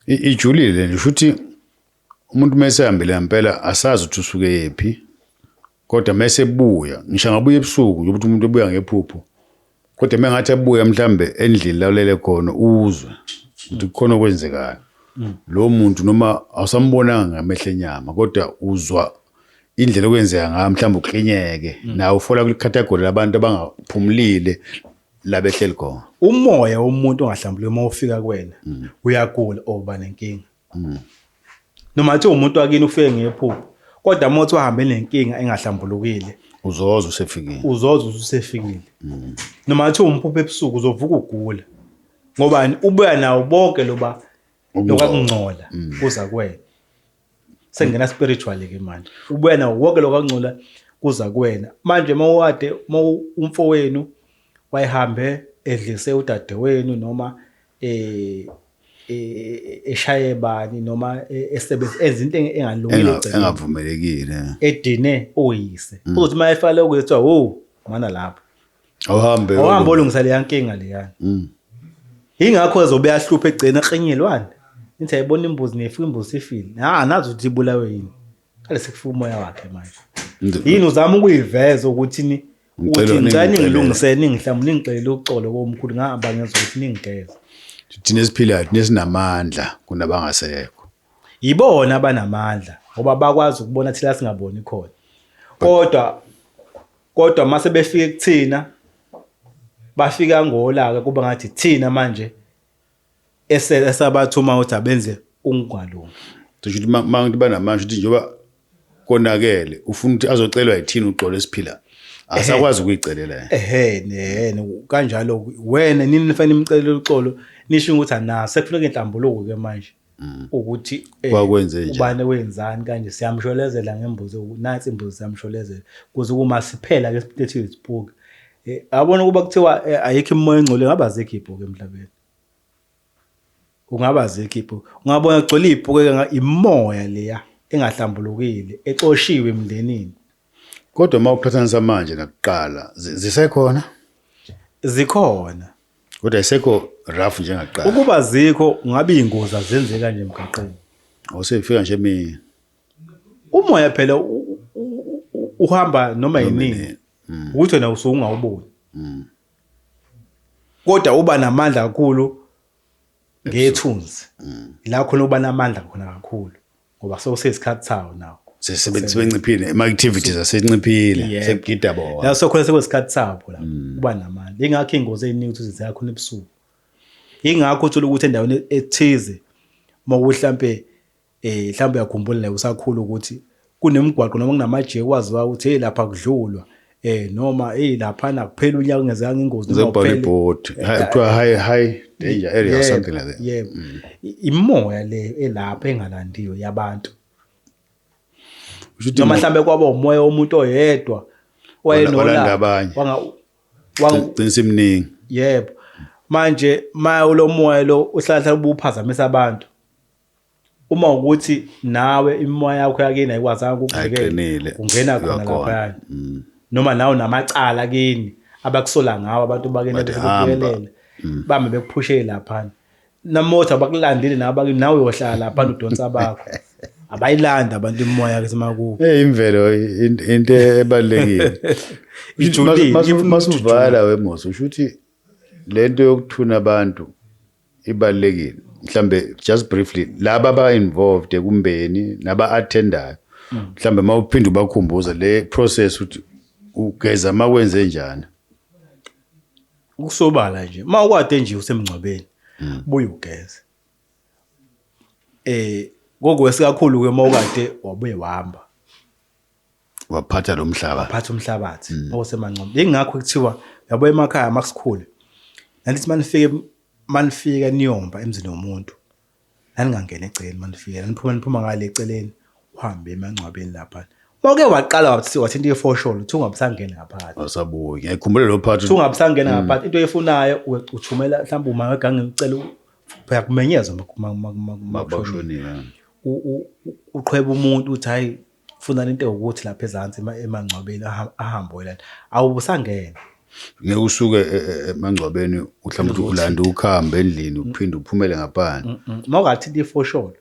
Ijulile nje shuthi umuntu mase hambile ngempela asazi ukuthi usuke yephi. Kodwa mase buya, ngisho ngabuya ebusuku nje ukuthi umuntu ebuya ngephupho. kodwa mengathi abuye mhlambe endlini la ulele khona uzwe ukuthi kukhona okwenzekayo mm. lo muntu noma awusambonanga ngamehla enyama kodwa uzwa indlela okwenzeka ngayo mhlawumbe uklinyeke mm. nawe ufola kwicategory labantu abangaphumulile labehleli khona umoya womuntu ongahlambuluki uma ufika kuwena mm. uyagula oba nenkinga Mm. Noma athi umuntu wakini ufike ngephupho kodwa mothi wahambe nenkinga engahlambulukile. Uzoza usefikile. Uzoza usefikile. Mm. Noma athi umphupho ebusuku uzovuka ugula. Ngoba ubuya nawo bonke loba lokungcola mm. kuza kwena. Sengena spiritually ke manje. Ubuya nawo wonke lokungcola kuza kuwena manje mawade umfowenu wayehambe edlise udadewenu noma eh e, e, eshaye bani noma e, esebenza enza into enge- engalungile Enga- egcekeni. engavumelekile edine oyise Mm. uzothi uma efale ukuyethiwa wo mana lapho awuhambe awuhambe olungisa leya nkinga leyana Mm. yingakho ezobe ahluphe egcina eklinyelwane nithi ayibona imbuzi nefu imbuzi ifile ha nazi ukuthi ibulawe yini Kale sekufika umoya wakhe manje. Yini uzama ukuyiveza ukuthi ni ukuthi ngicela ningilungise ningihlamu ningixele uxolo komkhulu ngahamba ngezwa ukuthi ningigeza. Thina esiphilayo thina sinamandla kunabangasekho. Yibona abanamandla ngoba bakwazi ukubona thina singaboni khona. Kodwa kodwa mase befike kuthina bafika ngolaka kuba ngathi thina manje ese esabathuma ukuthi abenze ungalungi cisho ukuthi ma- ma- banamanje ukuthi njengoba konakele ufuna ukuthi azocelwa yithini uxolo esiphila asakwazi ukuyicelela yena. ehe nehene kanjalo ku- wena nini nifanele nimcelele uxolo nisho ukuthi ana sekufuneka inhlambuluko ke manje ukuthi eh, Kwakwenze njani? ubani wenzani kanje siyamsholezela ngembuzi nansi imbuzi siyamsholezela kuze kuma siphela ke siphethile sibuke Eh, yabona ukuba kuthiwa eh, ayikho imimoya engcole ngabe azekho ibhuku emhlabeni ungaba azekho ibhuku ungabona kugcwele ibhuku imoya leya engahlambulukile exoshiwe emndenini kodwa uma uqhathanisa manje nakuqala zisekhona zikhona kodwa isekho rough njengakuqala ukuba zikho ngabe ingozi azenzeka nje emgaqweni awusefika nje mina umoya phela uhamba noma yinini mm. ukuthi wena usuke ungawuboni mm. kodwa uba namandla kakhulu ngethunzi mm. la khona uba namandla khona kakhulu ngoba sewusesikhathi sawo nawo sebenciphile ama-activities asenciphile sekugida bona la sokhona sekwesikhathi sabo la uba namandla ingakho iy'ngozi ey'ningi ukuthi ziyakhona ebusuku ingakho uthole ukuthi endaweni ethize uma kuhlampe Eh mhlawumbe uyakhumbula naye usakhula ukuthi kunemigwaqo noma kunamajeke kwaziwa ukuthi hey lapha kudlulwa eh noma hey lapha nakuphela unyaka ungezanga ingozi noma kuphela board kuthiwa eh, high high danger area or something like that yeah mm. imoya le elapha engalandiwe yabantu noma mhlambe kwaba umoya omuntu oyedwa wayenolanda abanye wangaqinisa iminingi yebo manje maye ulomoya lo uhlala ubuphazamisa abantu uma ukuthi nawe imimoya yakho yakini ayikwazanga ukukuvikela ungena khona laphaya mm. noma nawe namacala kini abakusola ngawo abantu bakini bekuyelela mm. bambe bekuphushele laphana namothi abakulandile nawe bakini nawe uyohlala laphana udonsa bakho abayilanda abantu imimoya ke semakubo hey imvelo into ebalekile ijulile masuvala wemosi usho ukuthi lento yokuthuna abantu ibalulekile mhlambe just briefly laba ba involved ekumbeni naba attendayo mm. mhlambe mawuphinda ubakhumbuza le process ukuthi ugeza makwenze njani ukusobala nje ma ukwade nje usemngcwabeni mm. buye ugeze eh kokwesikakhulu ke mawukade wabuye wahamba waphatha lo mhlaba waphatha umhlabathi mm. osemancomo yingakho kuthiwa yabo emakhaya uma kusikhule nandithi uma nifike uma nifika niyomba emzini womuntu naningangena egcekeni uma nifike naniphuma niphuma ngale eceleni uhambe emangcwabeni lapha Wake waqala wathi wathi into yefosholo uthi ungabusangena ngaphansi. Asabuye. Ngikhumbule lo part. Uthi ungabusangena mm. ngaphansi into oyifunayo uthumela mhlawumbe uma wegange ucela phela kumenyeza makushonile. Uqhweba umuntu uthi hayi Funa lento ewukuthi lapha ezansi ema- emangcwabeni aha- ahambe oyilanda awubusangena ngeke usuke e- e- emangcwabeni uhlawumbe ukuthi ulande ukhambe endlini uphinde uphumele ngaphandle uma ungathinta ifosholo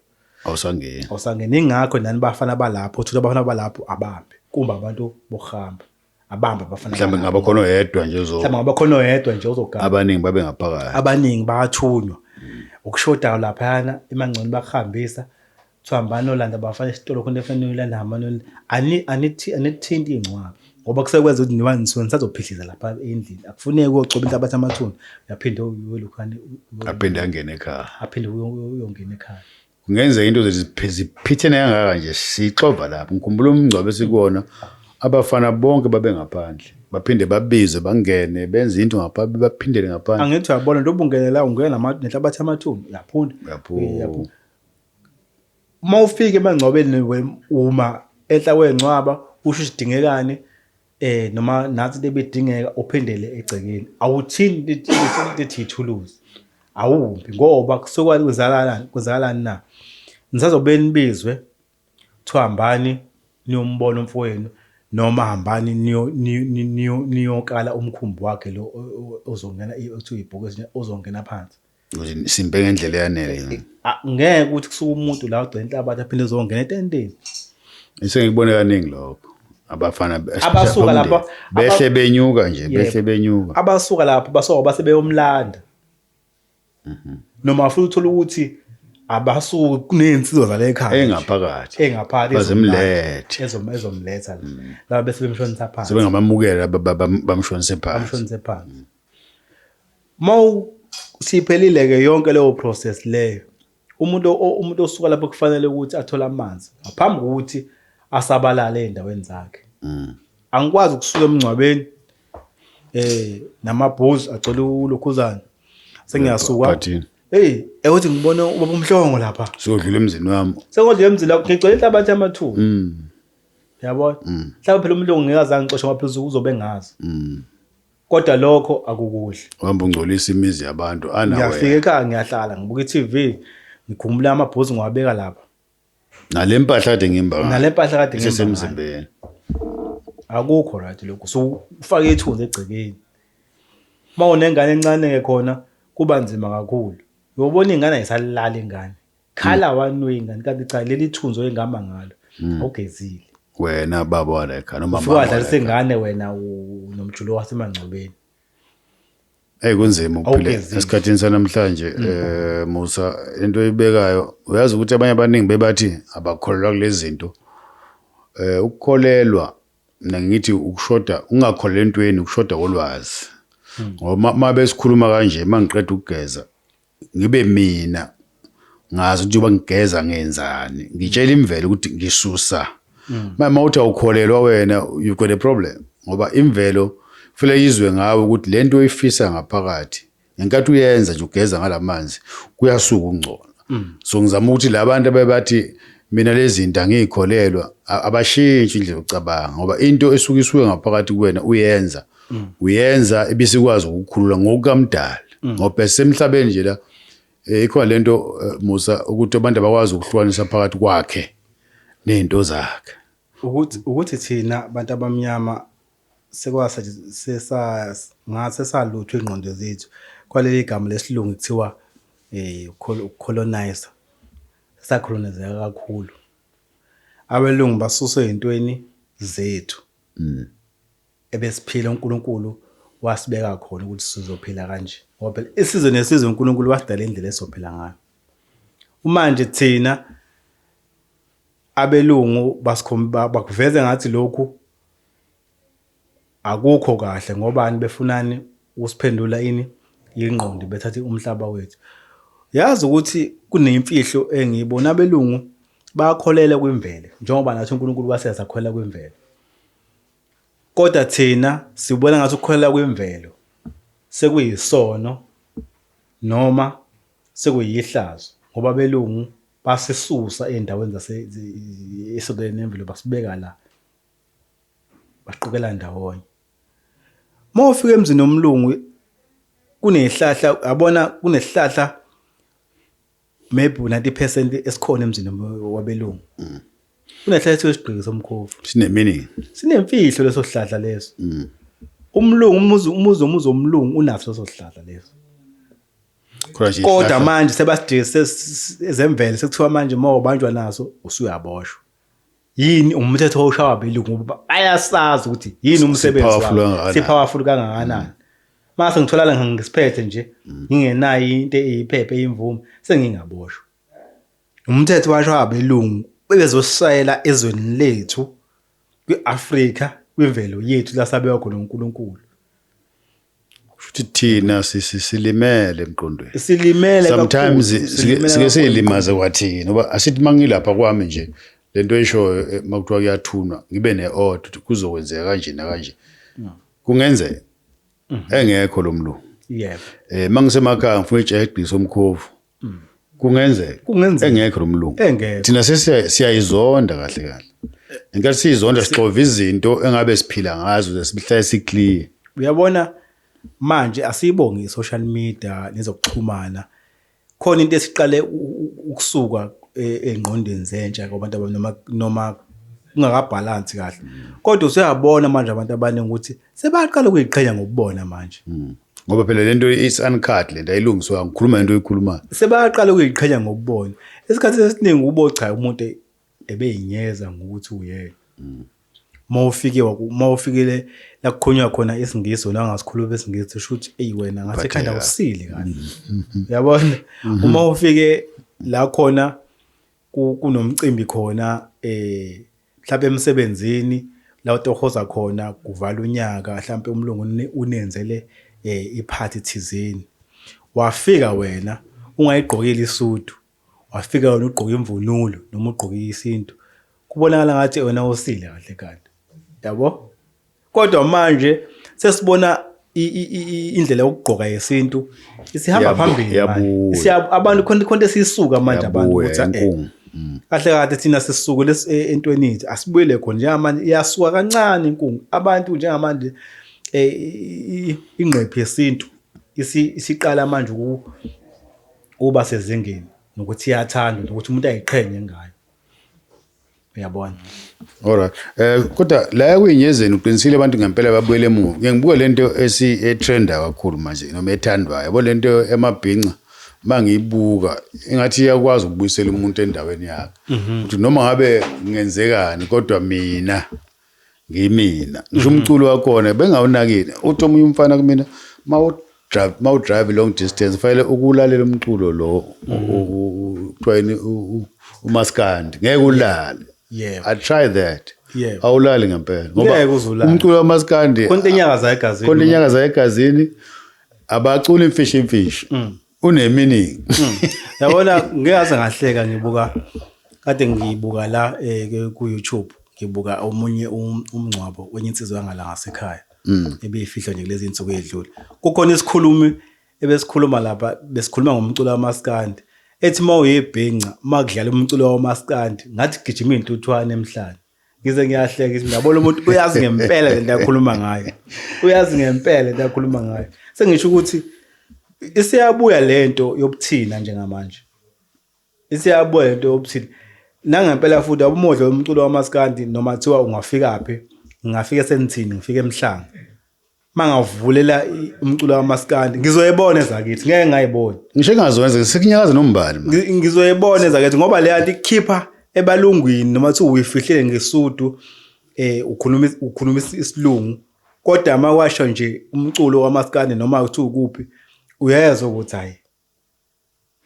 awusangeni awusangena ingakho nani bafana balapho uthola abafana balapho abambe kumbe abantu bokuhamba abambe abafana mhlawumbe ngaba khona oyedwa nje ozo mhlawumbe ngaba khona oyedwa nje ozogana abaningi babe ngaphakathi abaningi bathunywa mm. ukushodayo laphayana imangcono bakuhambisa thihambani olanda bafana esitolo khona efanele uyolanda hamani anithinti iy'ncwaba ngoba kusekwenza ukuthi niba nisuke nisazophihliza lapha endlini akufuneki uyogcoba into abathi amathuna uyaphinde uyolukhane aphinde angene ekhaya aphinde uyongena ekhaya kungenzeka into ziphi- ziphithene kangaka nje sixova lapho ngikhumbula umngcwabo esikuwona abafana bonke babengaphandle baphinde babizwe bangene benze into ngapha baphindele ngaphandle angithi uyabona nto ubungenela ungena nama- nenhlabathi yamathumbu uyaphunda Uyaphuma. Eh, uyaphuma. uma ufike emangcwabeni we- uma enhla kwengcwaba usho isidingekani eh noma nathi into ebidingeka uphindele egcekeni awuthini lithi lithi ithuluzi awumbi ngoba kusuke kwenzakalani kwenzakalani na nisazobe nibizwe kuthiwa hambani niyombona umfowenu noma hambani niyo- niyo- niyo- niyokala umkhumbi wakhe lo o- o- ozongena i- okuthiwa ibhuku ezinye ozongena phansi simpe ngendlela eyanele eh, eh, ah, ngeke ukuthi kusuke umuntu la ugcina inhlabathi aphinde ezongena etenteni isengikubone kaningi lokho abafana abasuka lapho behle benyuka nje behle benyuka abasuka lapho basoka base beyomlanda mhm. noma futhi uthola ukuthi abasuke kuney'nsizwa zale ekhaya engaphakathi engaphakathi bazimlethe ezomletha mm. laba bese bemshonisa phansi sebengamamukela bamshonise phansi bamshonise phansi Mawu siphelile ke yonke leyo process leyo umuntu umuntu osuka lapho kufanele ukuthi athole amanzi ngaphambi kokuthi asabalale endaweni zakhe mm. angikwazi ukusuka emngcwabeni eh namabhuzu agcwele ulokhuzana sengiyasuka hey ewuthi ngibone ubaba umhlongo lapha sodlula emzini wami sengodlula emzini lapho ngigcwele inhlabathi yamathuba mm. yabona mm. mhlawumbe phela umlungu ngeke azange ngixoshe ngoba phela uzobe ngazi kodwa lokho akukuhle uhamba ungcolisa imizi yabantu anawe ngiyafika ekhaya ngiyahlala ngibuka i-tv ngikhumbula amabhuzi ngiwabeka lapha nale mpahla kade ngimba ngayo. nale mpahla kade ngihamba ngayo. isesemzimbeni akukho right lokho so ufake ithunzi egcekeni uma unengane encane-ke khona kuba nzima kakhulu uyobona ingane ayisalali ingane khala hmm. wanwe ingane kanti cha leli thunzi oyengihamba ngalo hmm. awugezile wena baba walekha noma mama wadlalisa ingane wena nomjulo wasemangcobeni Hey kunzima ukuphila esikhathini sanamhlanje mm. eh Musa into oyibekayo uyazi ukuthi abanye abaningi bebathi abakholelwa kulezinto eh ukukholelwa mina ngithi ukushoda ungakholelwa entweni ukushoda kolwazi hmm. ngoba uma besikhuluma kanje mangiqeda ukugeza ngibe mina ngazi ukuthi uba ngigeza ngenzani ngitshela imvelo ukuthi ngisusa manje uma uthi awukholelwa wena you got a problem ngoba imvelo kufanele yizwe ngawe ukuthi le nto oyifisa ngaphakathi ngenkathi uyenza nje ugeza ngala manzi kuyasuka ukungcola so ngizama ukuthi la bantu abebathi mina lezi zinto angiyikholelwa a- abashintshi indlela yokucabanga ngoba into esuke isuke ngaphakathi kuwena uyenza mm. uyenza ibisikwazi ukukhulula ngokukamdala mm. ngoba semhlabeni nje la eh, ikhona lento eh, Musa ukuthi abantu abakwazi ukuhlukanisa phakathi kwakhe nezinto zakhe ukuthi ukuthi thina abantu abamnyama sekwasa sesa ngase salutho ingqondo zethu kwaleli gama lesilungu kuthiwa eh colonize sacolonizeka kakhulu abelungu basuswe ezintweni zethu mm. ebesiphila uNkulunkulu wasibeka khona ukuthi sizophila kanje ngoba phela isizwe nesizwe uNkulunkulu wasidala indlela esizophila ngayo umanje thina abelungu basikhomba bakuveze ngathi lokhu akukho kahle ngoba ani befunani usiphendula ini ingqondo bethathe umhlaba wethu yazi ukuthi kunemfihlo engiyibona abelungu bakholele kwimvelo njengoba nathi uNkulunkulu waseza khwela kwimvelo Kodwa thina sibona ngathi ukukholelwa kwimvelo sekuyisono noma sekuyihlazo ngoba belungu basisusa ezindaweni zase esondelene nemvelo basibeka la baqukela ndawonye. Uma ufika emzini womlungu kunezihlahla yabona kunezihlahla maybe u-90 percent esikhona emzini wabelungu mm. unehlala esiyo isigqiki somkhovu sineminingi sinemfihlo leso sihlahla leso mm. umlungu umuzi umuzi omuzi omlungu unaso leso sihlahla leso kodwa manje sebasidise ezemvelo sekuthiwa manje uma ubanjwa naso usuyaboshwa yini umthetho owushawa abelungu ngoba bayasazi ukuthi yini umsebenzi Sipowerful wabo kangakanani. sipowerful kangakanani mase ngitholala ngisiphethe nje ngingenayo into eyiphephe eyimvume sengingaboshwa umthetho washwa abelungu bebezosishayela ezweni lethu kwi-Afrika kwimvelo yethu lasabewa khona uNkulunkulu futhi thina silimele emqondweni silimele sometimes sike silimaze kwathina uba asithi mangilapha kwami nje lento eshoyo eh, makuthiwa kuyathunwa ngibe neod kuzokwenzeka kanje nakanje kungenzeka mhm. engekho lomlungu yebo eh mangise makhaya ngifuna ijahe egqisa omkhovu mm. kungenzeka kungenzeka engekho lo mlungu engekho thina sesiyayizonda kahle kahle ngenkathi siyizonda sixova izinto engabe siphila ngazo ze sihlale siclear uyabona manje asiyibongi social media nezokuxhumana khona into esiqale ukusuka e-, engqondweni zentsha kwabantu abanoma noma kungakabhalansi kahle kodwa usuyabona manje abantu abaningi ukuthi sebaqala ukuyiqhenya ngokubona manje hmm. ngoba phela le nto is uncut le nto ayilungiswa ngikhuluma into oyikhulumayo sebaqala ukuyiqhenya ngokubona esikhathini esiningi ubo cha umuntu ebeyinyeza ngokuthi uyena mm. uma ufike uma ufikile la kukhonywa khona isingisi wena ungasikhuluma isingisi usho ukuthi eyi wena ngasekhanda usile kahle mm. yabona mm-hmm. uma ufike la khona kunomcimbi khona eh Mhlampe emsebenzini la utohoza khona kuvala unyaka mhlampe umlungu unenzele eh iphathi thizeni wafika wena ungayigqokile isudu wafika wena ugqoka imvunulo noma ugqoke isintu kubonakala ngathi wena usile kahle kahle yabo kodwa manje sesibona indlela yokugqoka yesintu isihamba phambili abantu khona khona esisuka manje abantu ukuthi eh, mm. kahle kahle thina sisuke e, entweni yethu asibuyele khona njengamanje iyasuka kancane inkungu abantu njengamanje eh, ingqephi yesintu isiqala manje ukuba sezingeni nokuthi iyathanda nokuthi umuntu ayiqhenye ngayo uyabona alright eh kodwa la kuyinyezeni uqinisile abantu ngempela babuyele emuva ngeke ngibuke lento esi etrenda kakhulu manje noma ethandwayo yabo lento emabhinca mangiyibuka ingathi iyakwazi ukubuyisela umuntu endaweni yakhe mhm. ukuthi noma ngabe ngenzekani kodwa mina ngimina ngisho mhm. umculo wakhona bengawunakile uthi omunye umfana kumina ma udrive long distance fanele ukulalela umculo lo mhm. kuthiwayini umaskandi ngeke ulale i try that awulali ngempela ngoba umculo wamaskandi kontenyakaza egazini kontenyakaza egazini abacula imfishi imfishi mm. uneminingi hmm. yabona ngeke aze ngahleka ngibuka kade ngibuka la eh, ku YouTube ngibuka omunye um, umngcwabo wenye insizwa yangala ngasekhaya hmm. ebeyifihlwa nje kulezi insuku edlule kukhona isikhulumi ebesikhuluma lapha besikhuluma ngomculo wamaskandi ethi uma uyebhinca uma kudlala umculo wamaskandi ngathi gijima iy'ntuthwane emhlane ngize ngiyahleka ngithi ngiyabona umuntu uyazi ngempela le nto akhuluma ngayo uyazi ngempela le nto akhuluma ngayo sengisho ukuthi isiyabuya le nto yobuthina njengamanje isiyabuya le nto yobuthina nangempela futhi abumodla umculo wamaskandi noma kuthiwa ungafika phi ngingafike senithini ngifike emhlanga mangavulela umculo kamaskandi ngizoyibona ezakithi ngeke ngayibona ngisho engazwenze ngisikinyakaza nombali ngizoyibona ezakithi ngoba le yanto ikhipha ebalungwini noma kuthi uyifihlile ngesudu eh ukhuluma ukhuluma isilungu kodwa mawasho nje umculo kamaskandi noma kuthi ukuphi uyezwa ukuthi hayi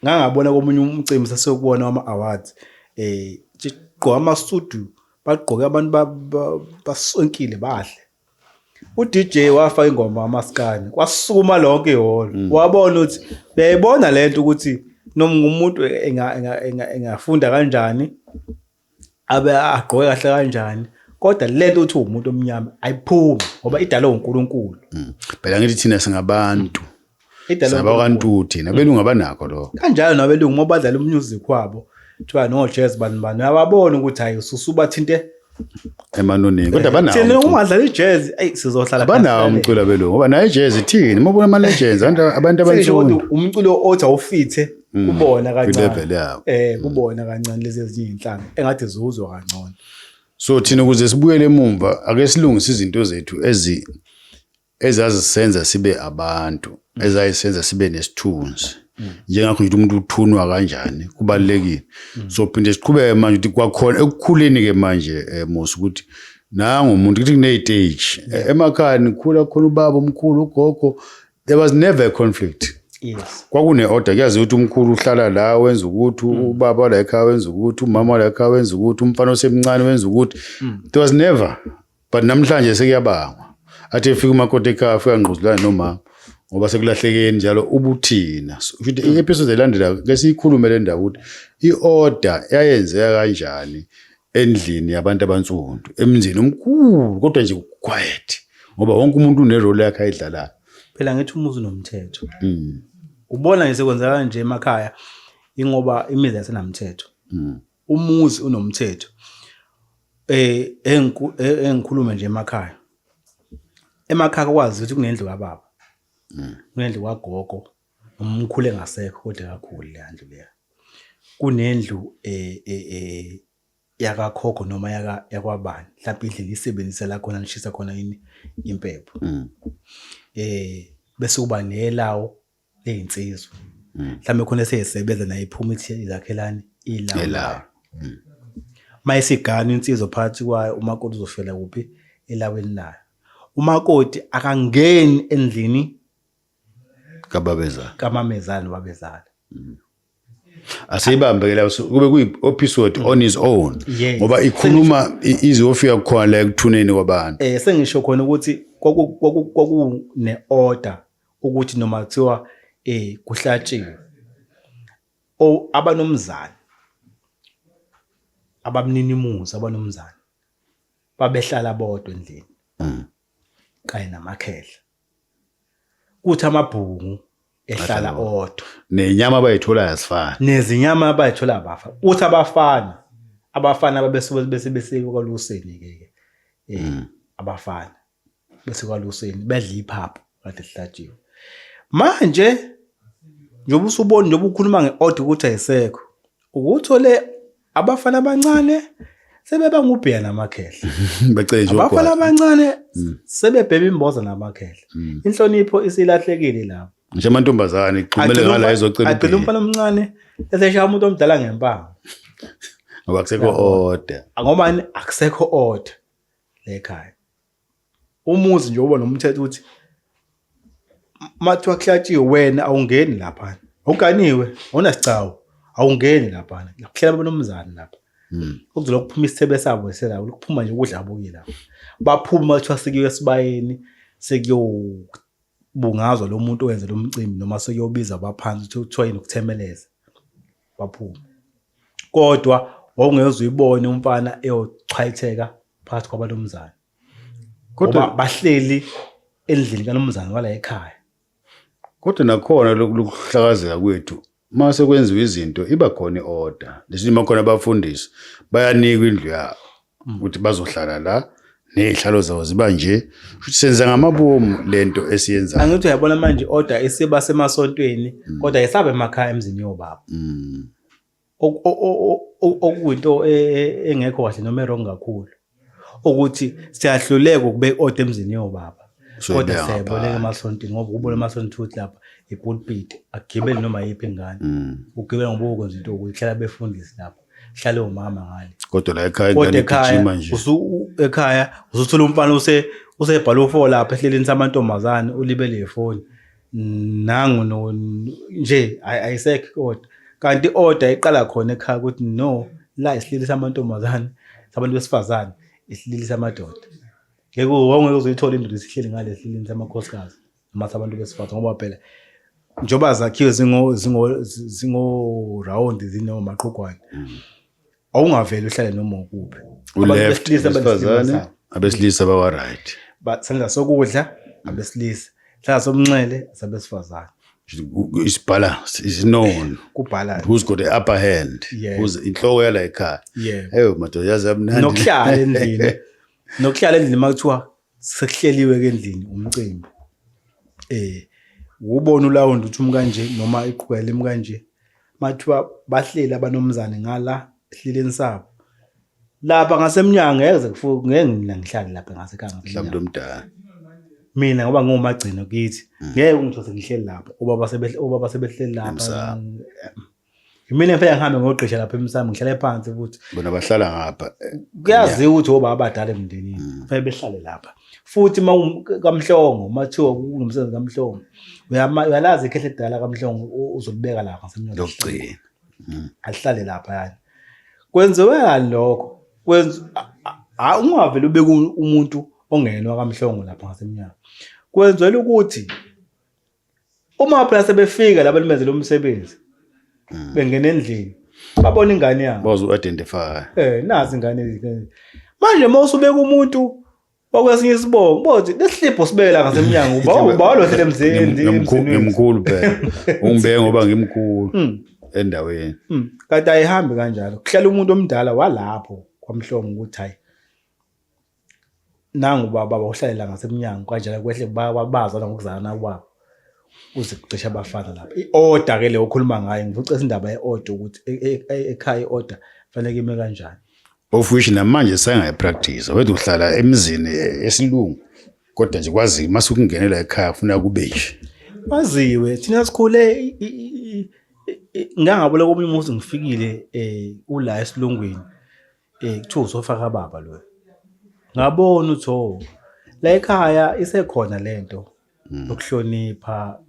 ngangabona komunye umcimbi sasiyokubona wama-awards eh gqoka amasudu bagqoke abantu basonkile bahle uDJ wafa ingoma amaskani kwasukuma lonke ihholo mm. wabona ukuthi uyayibona lento ukuthi noma umuntu engafunda kanjani abe agqoke kahle kanjani kodwa lento uthi umuntu omnyama ayiphumi ngoba idalwe uNkulunkulu mm. phela ngithi thina singabantu saba kantu thina belungu abanakho lokho kanjalo nabelungu uma badlala umusic wabo kuthiwa no jazz bani bani uyababona ukuthi hayi ususubathinte emanonini kodwa banawo thina uma dlala ijazz ayi sizohlala banawo umculo belungu ngoba nayo ijazz ithini uma ubona ama legends abantu abantu abansundu umculo othi awufithe mm, kubona kancane eh mm. kubona kancane lezi ezinye inhlanga engathi zuzwa kangcono so thina ukuze sibuyele emumva ake silungise izinto zethu ezi ezazisenza sibe abantu mm. ezayisenza sibe nesithunzi njengakho nje umuntu uthunwa kanjani kubalekile so phinde siqhubeke manje ukuthi kwakhona ekukhuleni ke manje eh, musa ukuthi nangu umuntu ukuthi kune stage eh, emakhaya nikhula khona ubaba omkhulu ugogo there was never a conflict yes kwakune-order kuyazi ukuthi umkhulu uhlala la wenza ukuthi mm. ubaba la ekhaya wenza ukuthi umama la ekhaya wenza ukuthi umfana osemncane wenza ukuthi mm. there was never but namhlanje sekuyabangwa athi efika umakoti ekhaya afika ngquzulane nomama ngoba sekulahlekeni njalo ubuthina futhi mm. i-episode elandela ke siyikhulume le ndawo ukuthi i-order yayenzeka kanjani endlini yabantu abansundu emzini omkhulu kodwa nje quiet ngoba wonke umuntu unerole yakhe ayidlalayo phela ngithi umuzi unomthetho mm. ubona nje sekwenzeka nje emakhaya ingoba imizi yasenamthetho mm. umuzi unomthetho eh engikhulume nje emakhaya emakhaya kwazi ukuthi kunendlu kababa mm. kunendlu kwagogo Umkhulu engasekho kodwa kakhulu leya ndlu leya. Kunendlu eh, eh, eh, yakakhokho noma yaka- yakwabani mhlawumpe indlu engiyisebenzisa la khona ngishisa khona yini impepho Mm. eh bese kuba nelawo leyinsizwa Mm. mhlawumbe khona eseyisebenza naye iphuma ithi ilakhelani ilawo Elawo. Mm. uma isigana insizwa phakathi kwayo umakoti uzoshwela kuphi elaweni layo umakoti akangeni endlini kababezala kamamezala babezala mm. asiyibambe ke la kube kuyi episode on his own ngoba ikhuluma izofika khona la ekuthuneni kwabantu eh sengisho khona ukuthi kwaku ne order ukuthi noma kuthiwa eh kuhlatshiwe o abanomzana abamninimuzi abanomzana babehlala bodwa endlini mm. kanye namakhehla kuthi amabhungu ehlala odwa nenyama abayithola yasifana nezinyama abayithola abafa uthi abafana abafana ababesuke bese besekwaluseni ke ke eh mm. abafana bese kwaluseni bedla iphaphu kade lihlatshiwe manje njengoba usubona njengoba ukhuluma ngeorder ukuthi ayisekho ukuthole abafana abancane sebeba ngubheya namakhehla becenjwa abafana abancane mm. sebebhema imboza namakhehla mm. inhlonipho isilahlekile lapho nje amantombazane ixhumele ngala ezocela agcina umfana omncane eseshaya umuntu omdala ngempama ngoba akusekho order ngoba akusekho order lekhaya umuzi nje uba nomthetho ukuthi mathiwa kuhlatshiwe wena awungeni laphana awuganiwe awunasigcawu awungeni laphana kuhlela banomzane lapha hmm. okuzola kuphuma isithebe sabo eselabo lokuphuma nje ukudla abuki lapho baphuma bathiwa sikiwe esibayeni sekuyobungazwa lo muntu owenze lo mcimbi noma sekuyobiza abaphansi kuthiwa yini ukuthemeleza baphuma kodwa wawungezwe uyibone umfana eyochwayitheka phakathi kwabalomzana kodwa bahleli endlini kalomzana wala ekhaya kodwa nakhona lokuhlakazeka kwethu uma sekwenziwa izinto iba khona i-order lesinye uma khona abafundisi bayanikwa indlu yabo mm. ukuthi bazohlala la nezihlalo zawo ziba nje futhi senza ngamabomu lento esiyenzayo angithi uyabona manje order isiba semasontweni mm. kodwa isabe emakhaya emzini yobaba mm. okuyinto e, e, engekho kahle noma erong kakhulu ukuthi siyahluleka ukubeka order emzini yobaba kodwa siyaboleka emasonti ngoba kubona emasonti futhi lapha ipulpit agibele noma yiphi ingane mm. ugibele ngoba ukwenza into ukuthi hlala befundisi lapho hlale umama ngale kodwa la ekhaya kodwa ingane ekhaya igijima nje usu- u- ekhaya usuthola umfana use usebhala ufo lapha ehleleni samantombazane ulibele ifoni nangu no nje ay- ayisekho kodwa kanti order iqala khona ekhaya ukuthi no la isihleli samantombazane sabantu besifazane isihleli samadoda ngeke wonke uzuyithola indoda isihleli ngale esihleleni samakhosikazi matha abantu besifazane ngoba phela njengoba zakhiwe zingo zingo zingo round zinoma maqhugwane mm. awungaveli uhlale noma ukuphi uleft besifazane abesilisa bawa right senza sokudla abesilisa hlala somnxele sabesifazane isibalance is known kubalance who's got the upper hand yeah. who's inhloko yala ekhaya yeah. eyo madoda yazi amnandi nokuhlala endlini nokuhlala endlini makuthiwa sekuhleliwe-ke endlini umcimbi um wubona ulawundi ukuthi umu kanje noma iqhukela imu kanje uma kuthiwa bahleli abanomzane ngala ehleleni sabo lapha ngasemnyango ngeke ze kufu- ngeke mina ngihlale lapha ngasekhaya mhlawumbe ngasemnyango. omdala mina ngoba ngiwumagcino kithi ngeke ungithole sengihleli lapho obaba sebehle- obaba sebehleli lapha Emsamo. Yimina ngifike ngihambe ngogqisha lapha emsamo ngihlale phansi ukuthi bona bahlala ngapha. Kuyaziwa ukuthi obaba abadala emndenini mm. kufanele behlale lapha. Futhi uma kamhlongo mathiwa kunomsebenzi kamhlongo uyalazi ikhehle edala kamhlongo uzolibeka lapha ngasemnyango. Lokugcina. Mm. Ahlale lapha yani. Kwenziwe yani lokho. Kwenza ungavele ubeke umuntu ongenwa kamhlongo lapha ngasemnyango. Kwenzelwe ukuthi uma phela sebefika laba limenzela umsebenzi mm. bengena endlini babona ingane yabo bazi u-identify eh nazi ingane manje uma usubeka umuntu wakwesinye isibongo bothi lesihlipho sibela ngasemnyango uba uba lohlele emzini ngimkhulu phela ungibeke ngoba ngimkhulu mm. endaweni mm. kanti ayihambi kanjalo kuhlala umuntu omdala walapho kwamhlongo ukuthi hayi nangu uba baba uhlalela ngasemnyango kanjena kwehle babaza nokuzana kwabo kuze kucisha abafana lapha i-order ke le okhuluma ngayo ngivucesa indaba ye-order ukuthi e, e, e, ekhaya i-order fanele kime kanjani of which namanje sengayipractice wethu uhlala emzini esilungu kodwa nje kwazi mase ukungenela ekhaya ufuna kube nje kwaziwe thina sikhule ngangabola komunye umuzi ngifikile um ula esilungwini Eh kuthiwa uzofa kababa lo. Ngabona uthi oh la ekhaya isekhona lento Mm. yokuhlonipha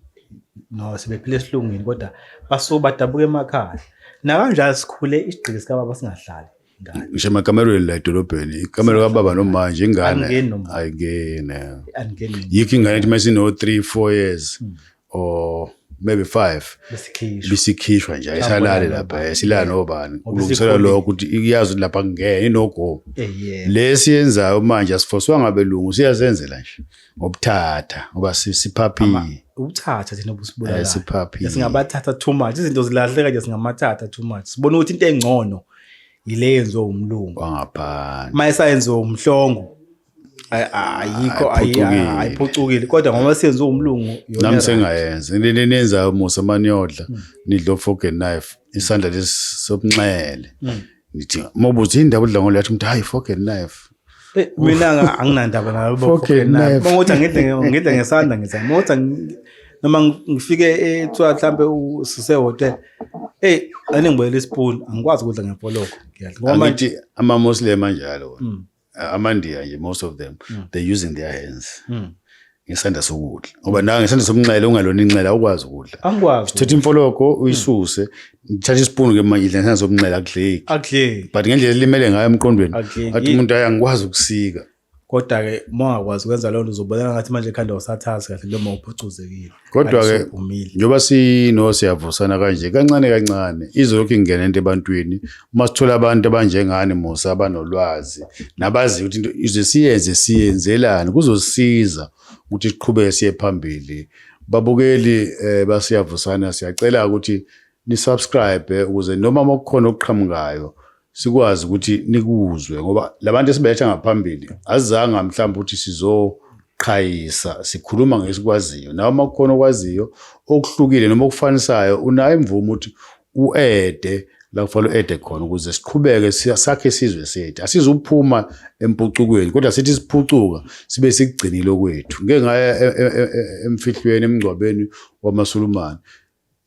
no sebephile esilungwini kodwa basuke badabuka emakhaya. Nakanjalo sikhule isigqiki sikababa singahlali ngane. Ngisho emakamerweni la edolobheni, ikamero kababa nomanje ingane Angingeni nomanje. ayingene. Angingeni. Yikho ingane ethi masino 3 4 years. or maybe five bisikhishwa nje ayisalali lapha eh, silala nobani kulungiselwa lokho ukuthi iyazi lapha kungene inogomo eh, lesi yenzayo manje asifoswa ngabelungu siyazenzela nje ngobuthatha ngoba siphaphile ukuthatha thina obusibulala eh, siphaphile singabathatha too much izinto zilahleka nje singamathatha too much sibona ukuthi into engcono yile yenziwe umlungu wangaphandle mayesayenziwe umhlongo ayikho ayiphucukile kodwa ngoba senze umlungu nami sengayenza leli nenza musa maniyodla hmm. nidla ofork and knife isandla lesi sobunxele hmm. nithi mobuthi indaba udla ngolo yathi umuntu hayi fork and knife eh, mina anginandaba nalo fork and knife ngokuthi ngidle ngidle ngesandla ngithi ngokuthi noma ngifike ethiwa mhlambe usise hotel hey anengibuyela ispoon angikwazi ukudla ngepoloko ngiyadla ngoba manje ama muslim anjalo wona hmm. amandiya nje most of them mm. they using their hands mm. ngesandla sokudla ngoba nawe ngesandla sokunxele ungalona inxele awukwazi ukudla angikwazi sithatha imfologo uyisuse ngithatha isipunu ke manje idla ngesandla sokunxele akudleki akudleki but ngendlela elimele ngayo emqondweni athi umuntu ayi angikwazi ukusika kodwa-ke uma ungakwazi ukwenza leyo nto uzobonela ngathi manje ekhanda usathazi kahle noma uphucuzekile Kodwa-ke njengoba sino siyavusana kanje kancane kancane izolokhu ingena into ebantwini uma sithola abantu abanjengani Musa abanolwazi nabaziyo ukuthi into ize siyenze siyenzelani kuzosiza ukuthi siqhubeke siye phambili babukeli eh basiyavusana siyacela ukuthi ni subscribe ukuze noma makukhona okuqhamukayo sikwazi ukuthi nikuzwe ngoba labantu esibeletha ngaphambili azizanga mhlawumbe ukuthi sizoqhayisa sikhuluma ngesikwaziyo nawe uma kukhona okwaziyo okuhlukile noma okufanisayo unayo imvumo ukuthi uede la kufanele uede khona ukuze siqhubeke sakhe isizwe sethu asizuphuma empucukweni kodwa sithi siphucuka sibe sikugcinile okwethu ngeke ngaya e, e, e, emfihlweni emngcwabeni wamasulumane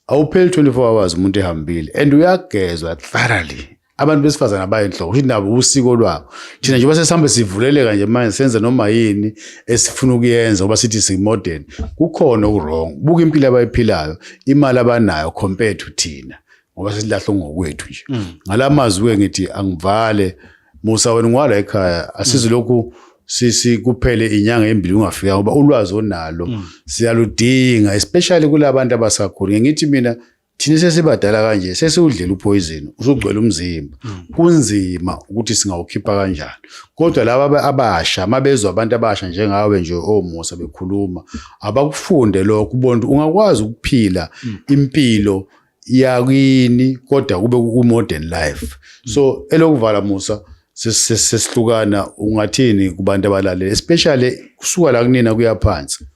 awupheli 24 hours umuntu ehambile and uyagezwa thoroughly abantu besifazane abayinhloko ukuthi nabo usiko lwabo thina njengoba sesihambe sivuleleka nje manje senze noma yini esifuna ukuyenza ngoba sithi simodern kukhona okurong buka impilo abayiphilayo imali abanayo compared to thina ngoba sesilahle ngokwethu nje mm. ngala mazwi-ke ngithi angivale mm. Musa wena ngwala ekhaya asizi lokhu sisi kuphele inyanga embili ungafika ngoba ulwazi onalo mm. siyaludinga especially kulabantu abasakhulu ngithi mina thina sesibadala kanje sesiwudlela uphoyizini usugcwele umzimba mm. kunzima ukuthi singawukhipha kanjani kodwa laba abasha mabezwa abantu abasha njengawe nje omusa bekhuluma abakufunde lokho ubona ungakwazi ukuphila mm. impilo yakini kodwa kube ku modern life so elokuvala musa sesihlukana ungathini kubantu abalalela especially kusuka la kunina kuyaphansi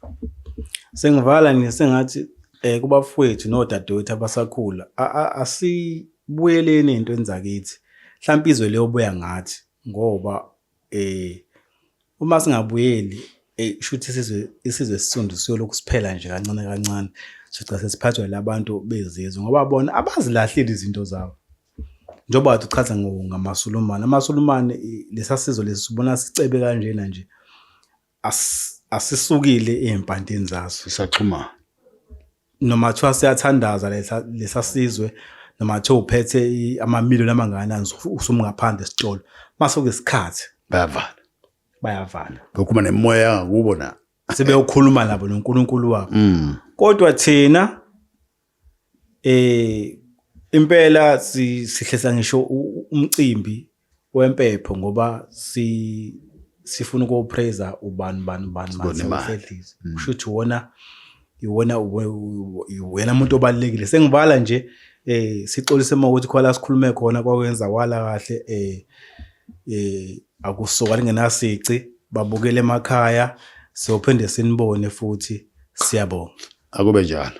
sengivala nje sengathi eh kubafowethu nodadewethu abasakhula asibuyeleni into enzakithi mhlawumbe izwe leyobuya ngathi ngoba eh uma singabuyeli eh shuthi isizwe isizwe esisundu siyolokhu siphela nje kancane kancane sica sesiphathwa labantu bezizwe ngoba bona abazilahleli izinto zabo njengoba wathi uchaza ngo- ngamasulumane amasulumane i- lesasizo lesibona sicebe kanjena nje As- asisukile ezimpantini zaso sisaxhumana noma kuthiwa siyathandaza lesa- lesa sizwe noma kuthiwa uphethe i- amamiliyoni amangakanani usu- usumngaphandle esitolo mase kuyisikhathi bayavala bayavala bekhuluma nemoya yangakubo na sebeyokhuluma nabo nonkulunkulu wabo Mm. kodwa thina Eh impela sihlehla ngisho umcimbi wempepho ngoba si sifuna ukuyopraiser ubani ubani ubani masehlise mm. kusho ukuthi wona iwona wena muntu obalekile sengibala nje eh sixolise uma ukuthi khona sikhulume khona kwakwenza wala kahle eh eh akusoka lingenasici babukele emakhaya siyophinde sinibone futhi siyabonga Akube njalo.